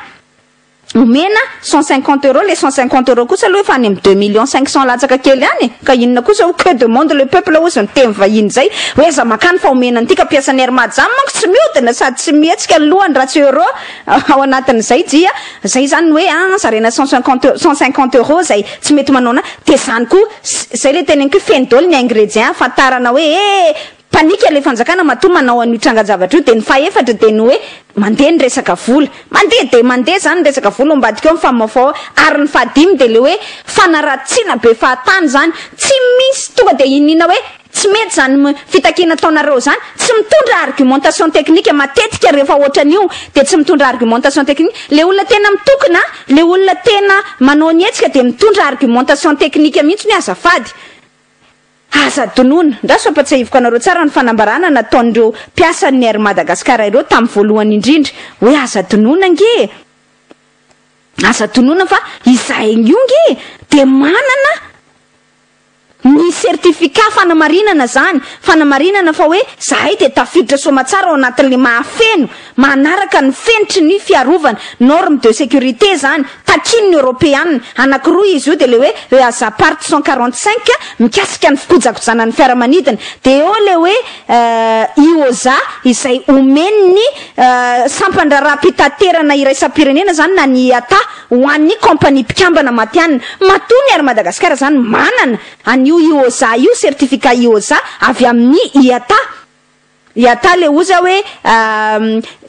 Omena cent cinquante euros, le cent cinquante euros kosa aloha efa any amin'ny deux millions cinq cents latsaka kely any e! ka inona kosa hoy que demande le peuple hozy ny teny vahiny zay hoe aiza makany fa omena an'ity ka mpiasan'ny air majam manko tsy miodina sady tsy mihetsika ny lohany raha tsy euro ao anatin'izay dia zay zany ny hoe an zarena cent cinquante cent cinquante euros zay tsy mety manao na dia zany koa zay le teneniko hoe feno daholo ny ingredient ahafantarana hoe eh Panique ilay fanjakana matoa manao an'io trangan-javatra io dia ny fahefatra dia ny hoe mandeha ny resaka vola, mandeha dia mandeha izany ny resaka vola ao ambadika ao ny famafao ao, ary ny fahadimy dia ilay hoe fanaratsiana be fahatany izany, tsy misy tonga dia iniana hoe tsy mety izany fitakiana ataonareo izany, tsy mitondra argumentation technique, matetika rehefa ohatran'io dia tsy mitondra argumentation technique, ilay olona tena mitokona, ilay olona tena manao ny hetsika dia mitondra argumentation technique mihitsy ny hoe azafady. Aza adinoina! Andraso hampatsiahiviko anareo tsara ny fanambarana nataon'ireo mpiasan'ny Air Madagascar ireo tamin'ny voalohany indrindra hoe aza adinoina ange e! Aza adinoina fa izahay io ange dia manana ny certificat fanamarinana izany, fanamarinana fa hoe izahay dia tafiditra soamatsara ao anatin'ilay mahafeno Manaraka ny fenitry ny fiarovana, normes de sécurité, izany, takian'ny Eoropeana. Anankiroa izy io, dia ilay hoe Easapart cent quarante cinq, mikasika ny fikojakojana ny fiaramanidina, dia eo ilay hoe Eosa, izay omen'ny sampan-draharaham-pitaterana iraisam-pirenena izany na ny IATA ho an'ny kaompania mpikambana matihanina. Matoa ny Air Madagascar izany manana an'io Eosa io, certificat Eosa avy amin'ny IATA. Iatà le oza hoe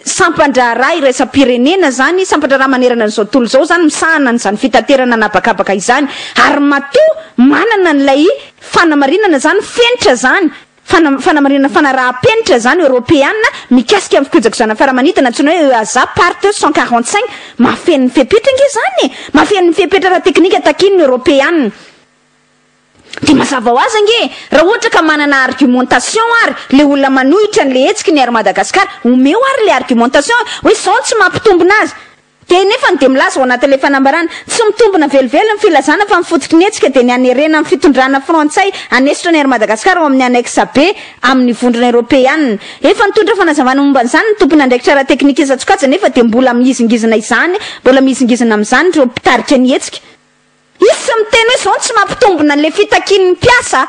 sampan-draharaha iraisam-pirenena zany, sampan-draharaha manerana an'izao tontolo izao zany misahana an'izany fitaterana an'habakabaka izany, ary matoa manana an'ilay fanamarinana zany fenitra zany, fana, fanamarinana fanaraha-penitra zany Eoropeana mikasika ny fikojakojana ny fiaramanidina antsoina hoe EASA part cent quarante cinq, mahafeno ny fepetra ange zany e! Mahafeno ny fepetra ara-teknika takian'ny Eoropeana. Dia mazava ho azy ange, raha ohatra ka manana argumentation ary le olona manohitra an'le hetsiky ny Air Madagascar, omeo ary le argumentation hoe zao no tsy mampitombina azy. Dia enefany dia milaza ao anatin'le fanambarana, tsy mitombina velively ny filazana fa ny fototry ny hetsika dia ny hanerena ny fitondrana frantsay hanesotra ny Air Madagascar ao amin'ny annexe B amin'ny vondrona eropeanina. Efa nitondra fanazavana momba an'izany ny tompon'andraikitra ara-teknika isan-tsokajy nefa dia mbola mihizingizina izany, mbola mihizingizina amin'izany ireo mpitarika ny hetsika. Izy tsy miteny hoe izao no tsy mampitombina an'ilay fitakian'ny mpiasa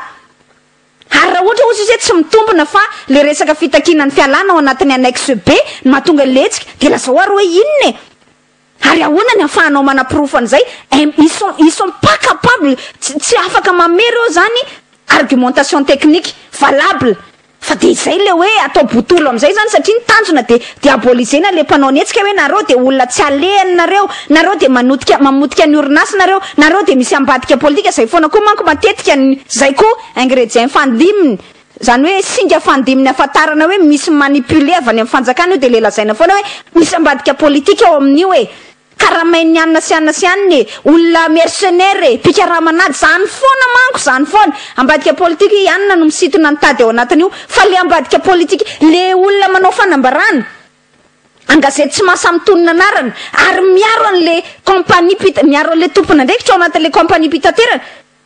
ary raha ohatra ozy izy hoe tsy mitombina fa ilay resaka fitakiana ny fialana ao anatin'ny annexe B no mahatonga ilay hetsika dia lazao ary hoe inona e? Ary ahoana ny ahafahanao manaporofo an'izay? Em, ils sont, ils sont pas capables, tsy, tsy afaka mamehy ireo izany argumentation technique valable. Fa dia izay ilay hoe atao botolo amin'izay izany satria ny tanjona dia diabolisena ilay mpanao ny hetsika hoe nareo dia olona tsy alehany nareo, nareo dia manotika, mamotika ny orinasa nareo, nareo dia misy ambadika politika izay foana koa manko matetika ny. Izay koa ingredient fandiminy, izany hoe singa fandiminy ahafantarana hoe misy mi-manipuler avy any amin'ny fanjakana io dia ilay lazaina foana hoe misy ambadika politika ao amin'io e. Karamain'ny anona sy anona sy anona e! Olona mercenaires e! Mpikaraman'ady! Zany foana manko! Zany foana! Ambadika politika i anona no misitona ny tady ao anatin'io fa le ambadika politika, le olona manao fanambarana an-gazety tsy maha samy tonona anarana ary miaro an'le compagnie mpita, miaro an'le tompon'andraikitra ao anatin'le compagnie mpitaterana,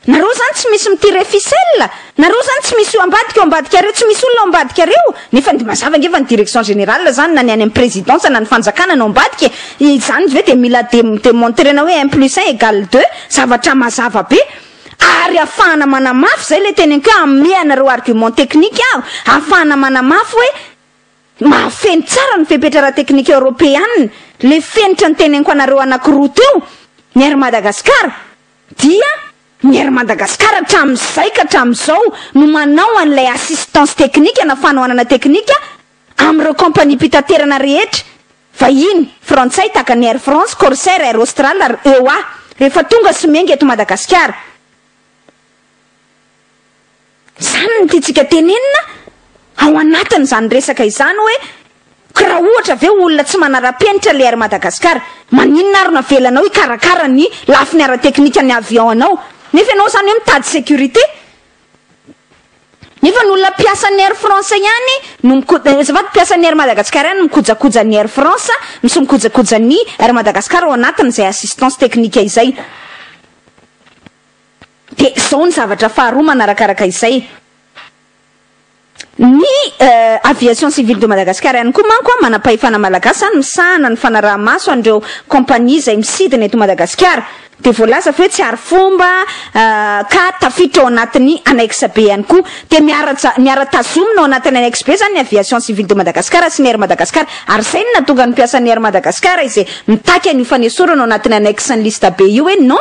Nareo zany tsy misy mitia refisel? Nareo zany tsy misy io ambadika io ambadikareo tsy misy olona ao ambadikareo? Nefa de mazava nge fa ny direction générale zany na ny any am présidence na ny fanjakana no ambadika e! Izany ve de mila de demontrena hoe un plus un egal deux? Zavatra mazava be! Ary afahana manamafy, zay le teneniko hoe amehy anareo argument technique aho, afahana manamafy hoe mahafeno tsara ny fepetra ara-teknika eoropeana le fenitra ny teneniko anareo anakiroa teo, ny Air Madagascar, Dia ny Air Madagascar hatramin'izay ka hatramin'izao no manao an'ilay assistance technique na fanohanana teknika amin'ireo kaompaniam-pitaterana rehetra vahiny, frantsay tahaka ny Air France, Corsair, Air Austral ary eo a. Rehefa tonga sy miainga eto Madagasikara. Izany no tiantsika tenenina ao anatin'izany resaka izany hoe, ko raha ohatra ve olona tsy manara-penitra ilay Air Madagascar, maninona ary no avelanao hikarakara ny lafiny ara-teknika ny avion anao? Nefa ianao izany hoe mitady sécurité? Nefa ny olona mpiasan'ny Air France ihany no miko, azafady, mpiasan'ny Air Madagascar ihany no mikojakoja ny Air France no sy mikojakoja ny Air Madagascar ao anatin'izay assistance technique izay. Dia izao ny zavatra faharoa manarakaraka izay. Ny Aviation Civile de Madagascar ihany koa manko, manam-pahefana malagasy an, misahana ny fanaraha-maso an'ireo kaompania izay misidina eto Madagasikara. Dia voalaza fa hoe tsy arifomba ka tafiditra ao anatin'ny annexe B ihany koa. Dia miara-ja, miara-tazomina ao anatin'ny annexe B izany ny Aviation Civile de Madagascar sy ny Air Madagascar. Ary izay no nahatonga ny mpiasan'ny Air Madagascar izay mitaky an'io fanesorana ao anatin'ny annexe ny liste B io hoe non,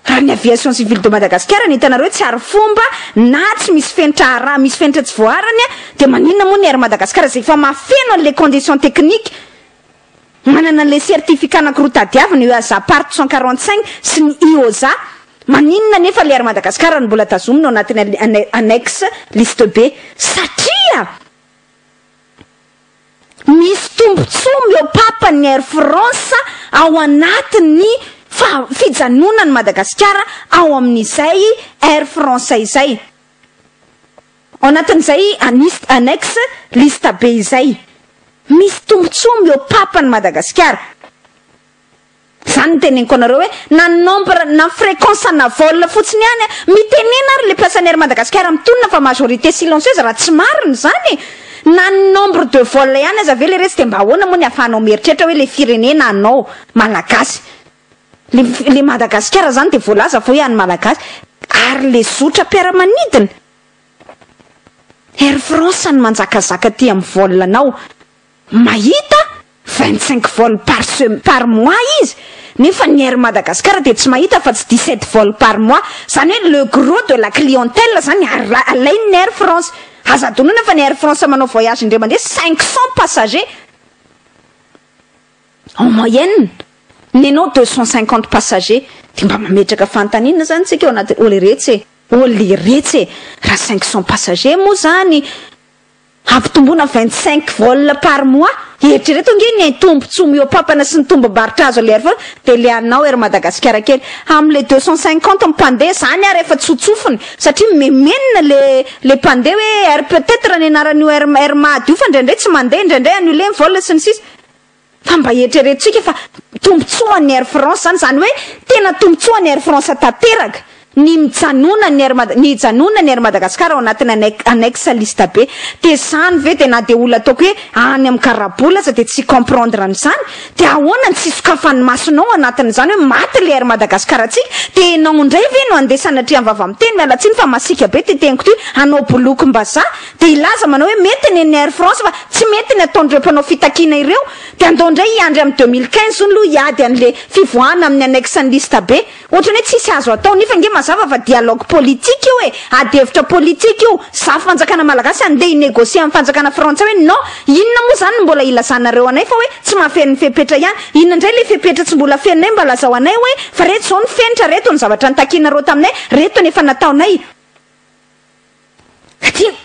Raha ny Aviation Civile de Madagascar no hitanareo hoe tsy arifomba na tsy misy fenitra araha misy fenitra tsy voaharany dia maninona moa ny Air Madagascar izay efa mahafeno an'ilay condition technique manana an'ilay certificat anankiroa tadiavina eo EASA part cent quarante cinq sy ny IOSA maninona anefa ilay Air Madagascar no mbola tazomina ao anatin'ny annexe liste B satria Misy tombontsoa miopapa ny Air France ao anatin'ny fijanonan'i Madagasikara ao amin'izay Air France izay. Ao anatin'izay anis- annexe liste be izay. Misy tombontsoa miopapa ny Madagasikara. Zany no teneniko anareo hoe na ny nombre na ny fréquence ana vol fotsiny ihany a! Mitenena ary le mpiasan'ny Air Madagascar mitonona fa majorité silencieuse raha tsy marina zany e! Na ny nombre de vol ihany aza ve leretsy de mba ahoana moa ny afahanao mieritreritra hoe le firenena anao malagasy le le Madagascar zany de voalaza fa hoe an'ny malagasy ary le zotra mpiaramanidina Air France no manjakazaka aty amin'ny vol anao mahita vingt cinq vols par sem par mois izy nefa ny Air Madagascar dia tsy mahita afa tsy dix sept vols par mois zany hoe le gros de la clientèle zany ara alain'ny Air France aza adinoina fa ny Air France manao voyage indray mandeha cinq cents passagers en moyenne nenao deux cents cinquante passagers dia mba mametraka fanontaniana zany tsika ao anaty oliretsy e oliretsy e raha cinq cents passagers moa zany Hampitomboina vingt cinq vol par mois? Eritrereto ange ny hain tombotsoa mihoapampana sy ny tombombarotra azo aller vol de le anao Air Madagasikara kely am le deux cent cinquante mpandeha zany ary efa tsotsofiny satria mimemenina le le mpandeha hoe air peut etre ny anaran'io air air mad io fa ndraindray tsy mandeha ndraindray annule ny vol sy ny sisa Fa mba eritreretintsika fa tombontsoa an'ny Air France izany, izany hoe tena tombontsoa an'i Air France tanteraka ny mijanonan'ny Air Mada, ny hijanonan'ny Air Madagascar ao anatin'ny annex, annexe liste B. Dia izany ve dia na dia olona ataoko hoe any amin'ny karabola aza dia tsy hi-comprendre an'izany? Dia ahoana ny tsy hisokafan'ny masonao ao anatin'izany hoe maty ilay Air Madagascar antsika? Dia ianao indray ve no handeha sanatria am-vava miteny, miala tsiny fa masiaka be ity teniko ity, hanao bolokim-bazaha? dia hilaza manao hoe mety ny an'ny Air France fa tsy mety ny ataon'ireo mpanao fitakiana ireo, dia andao indray hiandry amin'ny deux mille quinze hono aloha hiady an'ilay fivoahana amin'ny annexe-n'ny liste be. Ohatrany hoe tsisy azo atao, nefa ange mazava fa dialogue politique io e, ady hevitra politique io, za fanjakana malagasy andeha hi-negocier amin'ny fanjakana frantsay hoe non, inona moa izany no mbola hilazanareo anay fa hoe tsy mahafeno ny fepetra ihany, inona indray ilay fepetra tsy mbola fenonay mba lazao anay hoe fa reto izao ny fenitra, reto ny zavatra nitakianareo taminay, reto ny efa nataonay.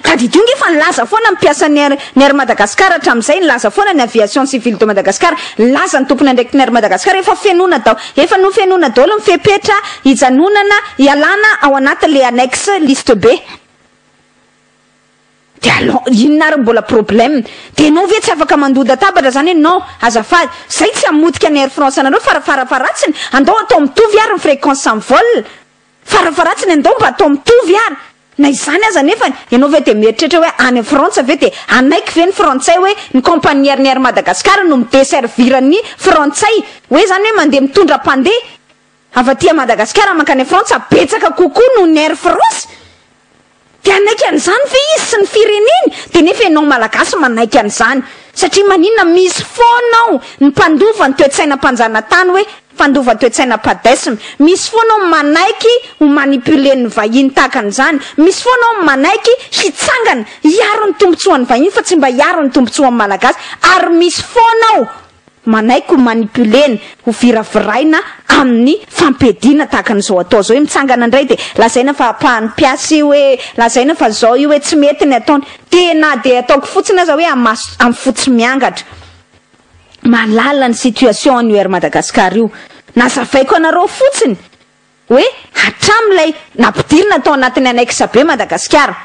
Tadidio nge fa nilaza foana ny mpiasan'ny Air ny Air Madagascar hatramin'izay, nilaza foana ny Aviation Civile de Madagascar, nilaza ny tompon'andraikitry ny Air Madagascar efa fenoina dao efa nofenoina daolo ny fepetra hijanonana hialana ao anaty le annexe liste B de alon inona ary mbola problème de enao ve tsy afaka mandondatabatra zany hoe non azafady zay tsy hamotika ny Air France anareo fara fara faratsiny andao atao mitovy ary ny fréquence am vol Farafaharatsiny andao mba atao mitovy ary na izany aza nefany ianao ve dia mieritreritra hoe any frantsa ve dia hanaiky ve ny frantsay hoe ny compagnier ny air madagascar no mi desservir ny frantsay hoe izany hoe mandeha mitondra mpandeha avy aty madagascar mankany frantsa betsaka kokoa noho ny air france Dia hanaiky an'izany ve izy sy ny fireneny? Dia nefa ianao Malagasy manaiky an'izany. Satria maninona misy foana ao ny mpandova ny toe-tsaina mpanjanatany hoe mpandova toe-tsaina padesm. Misy foana ao ny manaiky ho manipulen'ny vahiny tahaka an'izany. Misy foana ao ny manaiky hitsangana hiaro ny tombotsoan'ny vahiny fa tsy mba hiaro ny tombotsoan'ny Malagasy. Ary misy foana ao Manaiky ho manipuler-na, ho viraviraina amin'ny fampiadiana tahaka an'izao atao izao. Io mitsangana indray dia lazaina fa apahan'ny mpiasa io hoe, lazaina fa izao io hoe tsy mety ny ataony. Dia na dia ataoko fotsiny aza hoe amaso amin'ny fo tsy miangatra. Mahalala ny situation an'io Air Madagascar io. Nazavaiko anareo fotsiny hoe hatramin'ilay nampidirina tao anatin'ny annexe be Madagasikara.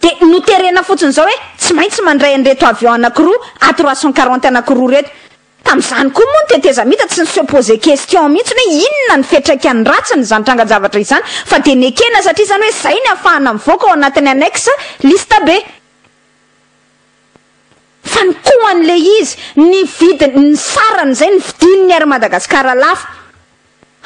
Dia noterena fotsiny izao hoe tsy maintsy mandray an'ireto avion anankiroa A trois cent quarante anankiroa ireto. Tamin'izany koa moa ny tetezamita tsy ni-se poser question mihitsy ny hoe inona ny fiatraikany ratsiny izany trangan-javatra izany fa dia nekena satria izany hoe izay ny afahana mivoaka ao anatin'ny annexe liste B. Fa ny koa an'ilay izy, ny vidiny, ny sarany izay, ny vidin'ny Air Madagascar lafo.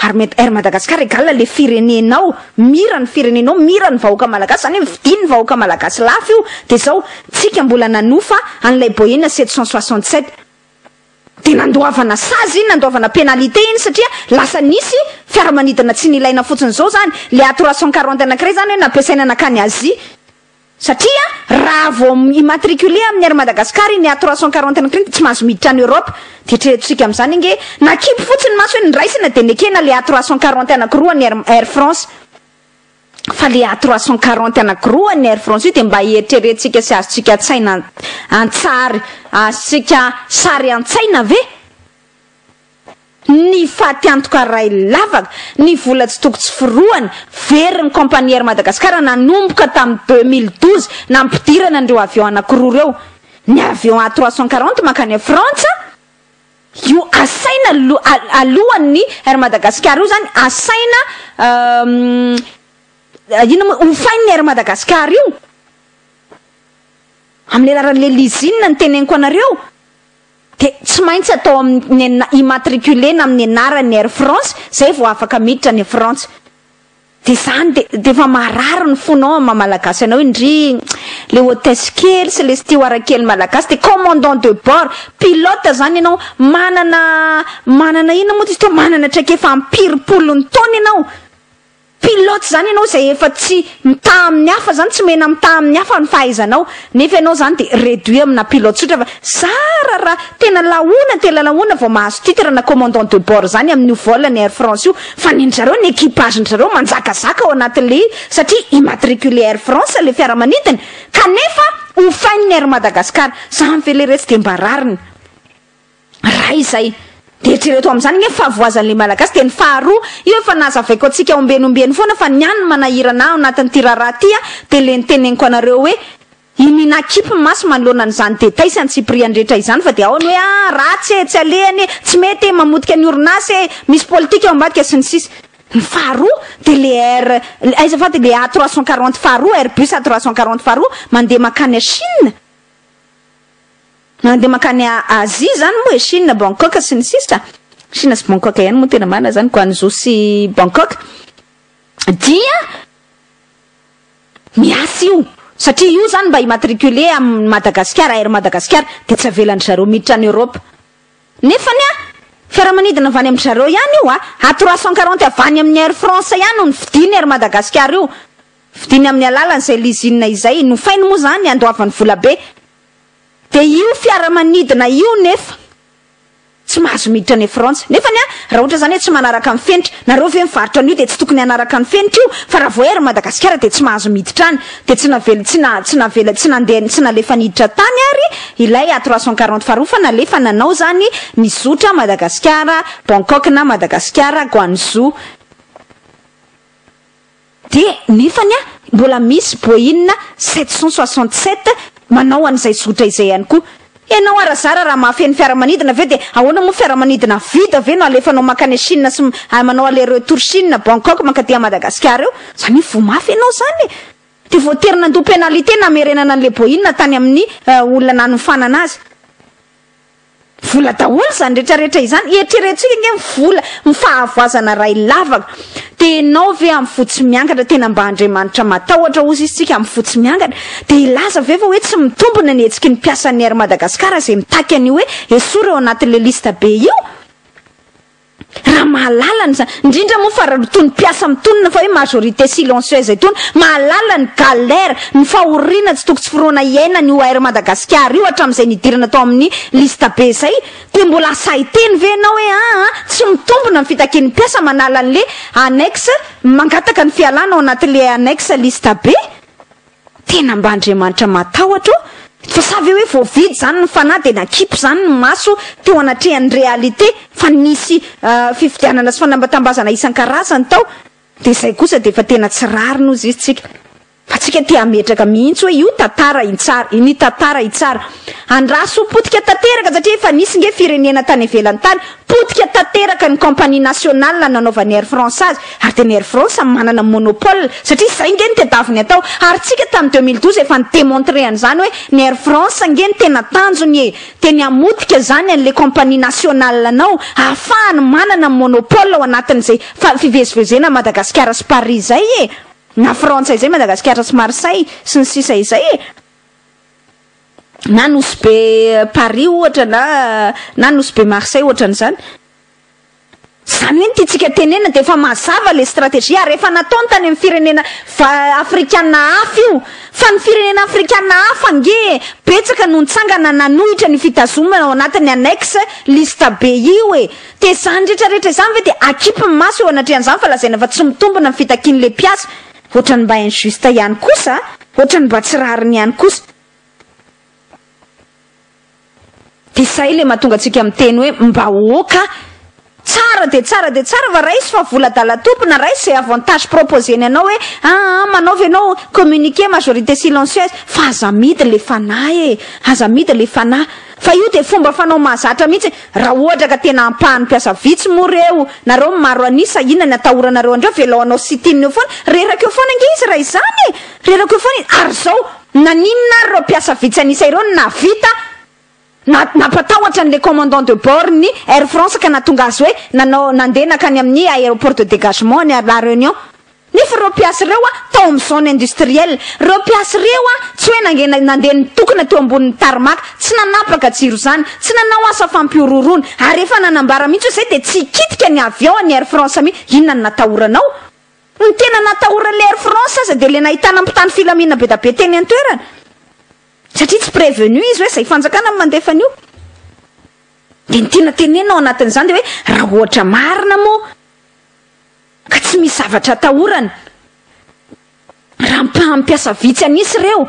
Ary mety Air Madagascar égal le firenenao, mira ny firenenao, mira ny vahoaka malagasy, zany hoe vidin ny vahoaka malagasy lafo io, de zao tsika mbola nanofa an'ilay Boeing sept cent soixante sept, de nandoavana sazy iny, nandoavana pénalité iny satria lasa nisy fiaramanidina tsy nilaina fotsiny, zao zany le A trois cent quarante anankiray zany hoe nampiasaina nankany Asie, Satria raha vao mi-immatriculer amin'ny Air Madagascar iny A trois cent quarante ny crin tsy mahazo miditra any Europe. Dia eritreretontsika amin'izany ange, nakipy fotsiny ny maso hoe noraisina dia nekena ilay A trois cent quarante anakiroa an'ny Air Air France. Fa ilay A trois cent quarante anakiroa an'ny Air France io dia mba eritreretintsika sy azontsika an-tsaina an-tsary azontsika sary an-tsaina ve? Ny faty antoka ray lavaka, ny vola tsy toko tsy forohany, very ny Compagnie Air Madagascar nanomboka tamin'ny deux mille douze nampidirana an'ireo avion anankiroa ireo, ny avion A trois cent quarante mankany Frantsa io asaina alohan'ny Air Madagascar io izany asaina inona moa hofain'ny Air Madagascar io, amin'ny alalan'ilay lizina no teneniko anareo. dia tsy maintsy atao amin'ny ny immatriculer-na amin'ny anaran'ny Air France izay vao afaka miditra any Frantsa dia izany dia dia efa marary ny fonao amin'ny maha malagasy anao iny ndry le hôtesse kely sy le steward kely malagasy dia commandant de bord pilote izany ianao manana manana inona moa izy teo manana traikefa am-piry polony taona ianao Pilote zany ianao izay efa tsy mitaha amin'ny hafa zany, tsy omena mitaha amin'ny hafa ny fahaizanao, nefa ianao zany de reduit amina pilote tsotra fa zara raha tena lahoana tena lahoana vao mahazo titre na commandant de bord zany amin'io vol ny air france io fa ny an'zareo ny equipage n'zareo manjakazaka ao anatin'le satria immatriculé air france le fiaramanidina kanefa hofain'ny air madagascar zany ve le retsy de mba rariny Raha izay, dia eritrereto amin'izany ange ny fahavoazan'ilay Malagasy, dia ny faharoa, io efa nazavaiko antsika ombieny ombieny foana fa ny ahy ny manahirana ahy ao anatin'ity raharaha ity an, dia ilay niteneniko anareo hoe, i Nina kipy ny maso manoloana an'izany détail sy antsipiriany rehetra izany fa dia ao ny hoe, ah, ratsy e, tsy alehany e, tsy mety e, mamotika ny orinasa e, misy politika ao ambadika sy ny sisa. Ny faharoa, dia ilay air, aiza fa dia ilay A trois cent quarante faharoa, airbus A trois cent quarante faharoa, mandeha mankany à Chine, Mandeha mankany Azia zany moa e, Chine, Bangkok sy ny sisa, Chine sy Bangkok ihany moa tena marina zany, Guangzhou sy Bangkok, dia miasa io satria io zany mba immatriculer amin'i Madagasikara, Air Madagasikara, dia tsy avelan-dry zareo miditra any Europe. Nefany an, fiaramanidina avy any amin-dry zareo ihany io an, à trois cent quarante avy any amin'ny Air France ihany no nividian'ny Air Madagasikara io, Vidiny amin'ny alalan'izay lizina izay nofainy moa izany handoavany volabe. Dia io fiaramanidina io nefa tsy mahazo miditra any Frantsa. Nefany an, raha ohatra izany hoe tsy manaraka ny fenitra, nareo ve mivarotra an'io dia tsy tokony hanaraka ny fenitra io? Fa raha vao ery Madagasikara dia tsy mahazo miditra any. Dia tsy navela tsy na tsy navela tsy nandeha tsy nalefa niditra tany ary ilay A trois cent quarante faharoa fa nalefa nanao izany nizotra Madagasikara, Bangkok na Madagasikara, Guangzhou. Dia nefany an, mbola misy boina sept cent soixante sept manao an'izay zotra izay ihany koa. Ianao ara zara raha mahafeno fiaramanidina ve dia ahoana moa fiaramanidina vita ve no alefanao mankany Chine sy manao aller retour Chine, Bangkok mankaty à Madagascar eo? Zany hoe voa mafy ianao zany e! Dia voatery nandoa pénalité namerenana an'ilay boina tany amin'ny olona nanofanana azy. Vola daholo izany rehetra rehetra izany, eritreretintsika ange ny vola, ny fahavoazana iray lavaka. Dia ianao ve amin'ny fo tsy miangatra tena mba Andriamanitra matahotra hozy izy tsika amin'ny fo tsy miangatra? Dia hilaza ve fa hoe tsy mitombina ny hetsiky ny mpiasan'ny Air Madagascar izay mitaky an'io hoe esory ao anatin'ilay liste be io? Raha mahalala ny zany, indrindra moa fa itony mpiasa mitonona fa hoe majorité silencieuse itony, mahalala ny galère, ny fahoriana tsy toko tsy foroana iainany io Air Madagasikara io hatramin'izay nidirana tao amin'ny liste be izay, dia mbola asahy-teny ve ianao hoe aa tsy mitombina ny fitakian'ny mpiasa manala an'le annexe mangataka ny fialana ao anatin'le annexe liste be? Tena mba Andriamanitra matahotra ô! Fa sa ve hoe voavidy izany ny fanahy dia nakipo izany ny maso teo anatrehan'ny réalité fa nisy fifidianana sy fanambatambazana isan-karazany tao dia izay kosa dia efa tena tsy rariny hozy izy tsika fa tsika te hametraka mihitsy hoe io tantara itsara iny tantara itsara andraso potika tanteraka satria efa nisy nge firenena tany ivelany tany Potika tanteraka ny compagnie nationale nanaovan'ny Air France azy ary dia ny Air France no manana monopole satria izay ange no tedaviny atao ary tsika tamin'ny deux mille douze efa ni demontrer an'izany hoe ny Air France ange no tena tanjony e! dia ny hamotika izany an'ilay compagnie nationale anao ahafahany manana monopole ao anatin'izay fa fivezivezena Madagasikara sy Paris izay e! na Frantsa izay Madagasikara sy Marseille sy ny sisa izay e! Na nosy be Paris ohatra na na nosy be Marseille ohatran'izany. Izany hoe ny tiantsika tenenina dia efa mazava le strategie ary efa nataony tany amin'ny firenena afrikana hafa io. Fa ny firenena afrikana hafa ange betsaka no nitsangana nanohitra ny fitazomana ao anatin'ny annex liste be io e. Dia izany rehetra rehetra izany ve dia akipy ny maso eo anatrehan'izany fa lazaina fa tsy mitombina ny fitakian'ilay mpiasa. Ohatran'ny mba injuste ihany kosa a. Ohatran'ny mba tsy rariny ihany kosa. Dia izay ilay mahatonga antsika miteny hoe mbahoaka tsara dia tsara dia tsara fa raiso fa vola adalatompona raiso izay avantage proposer-ny anao hoe aa ah, manaova ianao communiquer majorité silencieuse fa aza amidy ilay fanahy e aza amidy ilay fanahy Fa io dia fomba fanao mahazatra mihitsy raha ohatra ka tena ampahany mpiasa vitsy moa reo nareo maro an'isa inona ny atahoranareo andreo velao hanao sit in eo foana reraka eo foana ange izy raha izany e reraka eo foana izy ary izao naninona ary ireo mpiasa vitsy an'isa ireo no nahavita na nampatahotra an'ilay commandant de bord ny air france ka nahatonga azy hoe nanao nandeha nankany amin'ny aéroport de dégagement any à la réunion Nefa ireo mpiasa ireo a, tao amin'ny zone industrielle, ireo mpiasa ireo a, tsy hoe nangena nandeha nitokona teo ambonin'ny tarmac, tsy nanapaka jiro izany, tsy nanao asa fampihorohoroana, ary efa nanambara mihitsy hoe izay dia tsy hikitika ny avion an'ny Air France mihitsy, inona no natahoranao? Ny tena natahoran'ilay Air France aza dia ilay nahitana mpitandro filaminana bedabe teny an-toerana, satria tsy prevenu izy hoe izay fanjakana no mandefa an'io. Dia ny tiana tenenina ao anatin'izany dia hoe raha ohatra marina moa, Ka tsy misy zavatra atahorana raha ampahan'ny mpiasa vitsy an'isa ireo.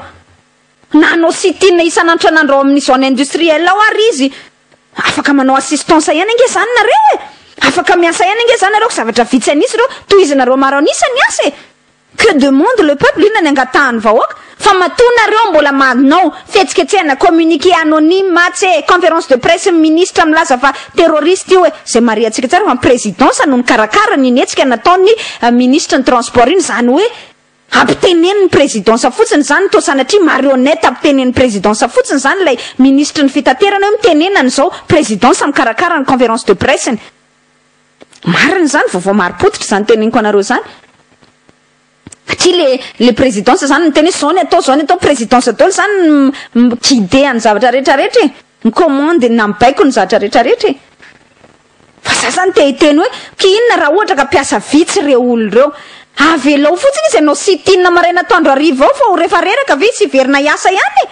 Na hanao sit-in isan'antranandro ao amin'ny zone industrielle ao ary izy, afaka manao assistance ihany ange izany nareo e! Afaka miasa ihany ange izany nareo ka zavatra vitsy an'isa ireo, tohizinareo maro an'isa ny asa e! Que demande le peuple? Inona ny angatahan'ny vahoaka? Fa matoa nareo mbola manao fihetsiketsehana, communiqué anonyme atsy e, conférence de presse ny ministra milaza fa terroriste io e, izay marihantsika tsara fa ny présidence no nikarakara iny hetsika nataon'ny ministre ny transport iny, izany hoe ampitenenin'ny présidence fotsiny izany, toa sanatria marionnette ampitenenin'ny présidence fotsiny izany ilay ministre ny fitaterana hoe mitenena an'izao, présidence mikarakara ny conférence de presse ny. Marina izany, vaovao marim-pototra izany teneniko anareo izany. Satria le le présidence izany miteny hoe izao ny atao, izao ny atao, présidence daholo izany mi-guider ny zavatra rehetra rehetra e, mi-commander na mibaiko ny zavatra rehetra rehetra e. Fa za izany te hiteny hoe, okay inona raha ohatra ka mpiasa vitsy ireo olona ireo? Avelao fotsiny izy hanao sit-in maraina atoandro hariva ao fa ho refa reraka ve izy hiverina hiasa ihany e?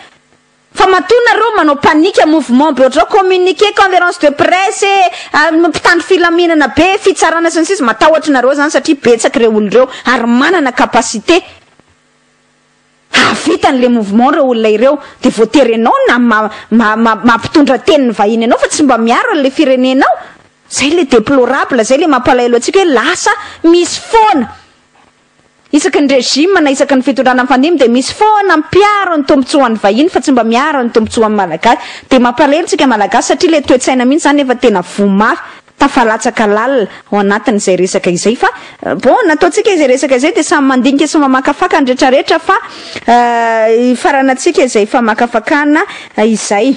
Fa matoa nareo manao panique mouvement be otrao communiqué conference de presse eh mpitandro filaminana be fitsarana sy ny sisa matahotry nareo zany satria betsaky reo olo reo ary manana capacité hahavita any le mouvement reo olona ireo de voatery enao na ma ma ma mampitondra teny ny vahiny enao fa tsy mba miaro any le firenenao zay le deplorable zay le mampalahelo atsika hoe lasa misy foana Isaky ny régime na isaky ny fitondrana mifandimby dia misy foana mpiaro ny tombotsoan'ny vahiny fa tsy mba miaro ny tombotsoan'ny malagasy. Dia mampalahelo tsika malagasy satria ilay toetsaina mihitsy izany efa tena voa mafy, tafalatsaka lalina ao anatin'izay resaka izay fa bon nataontsika izay resaka izay dia samy mandinika sy mamakafaka ny retraretra fa hifarana antsika izay famakafakana izay.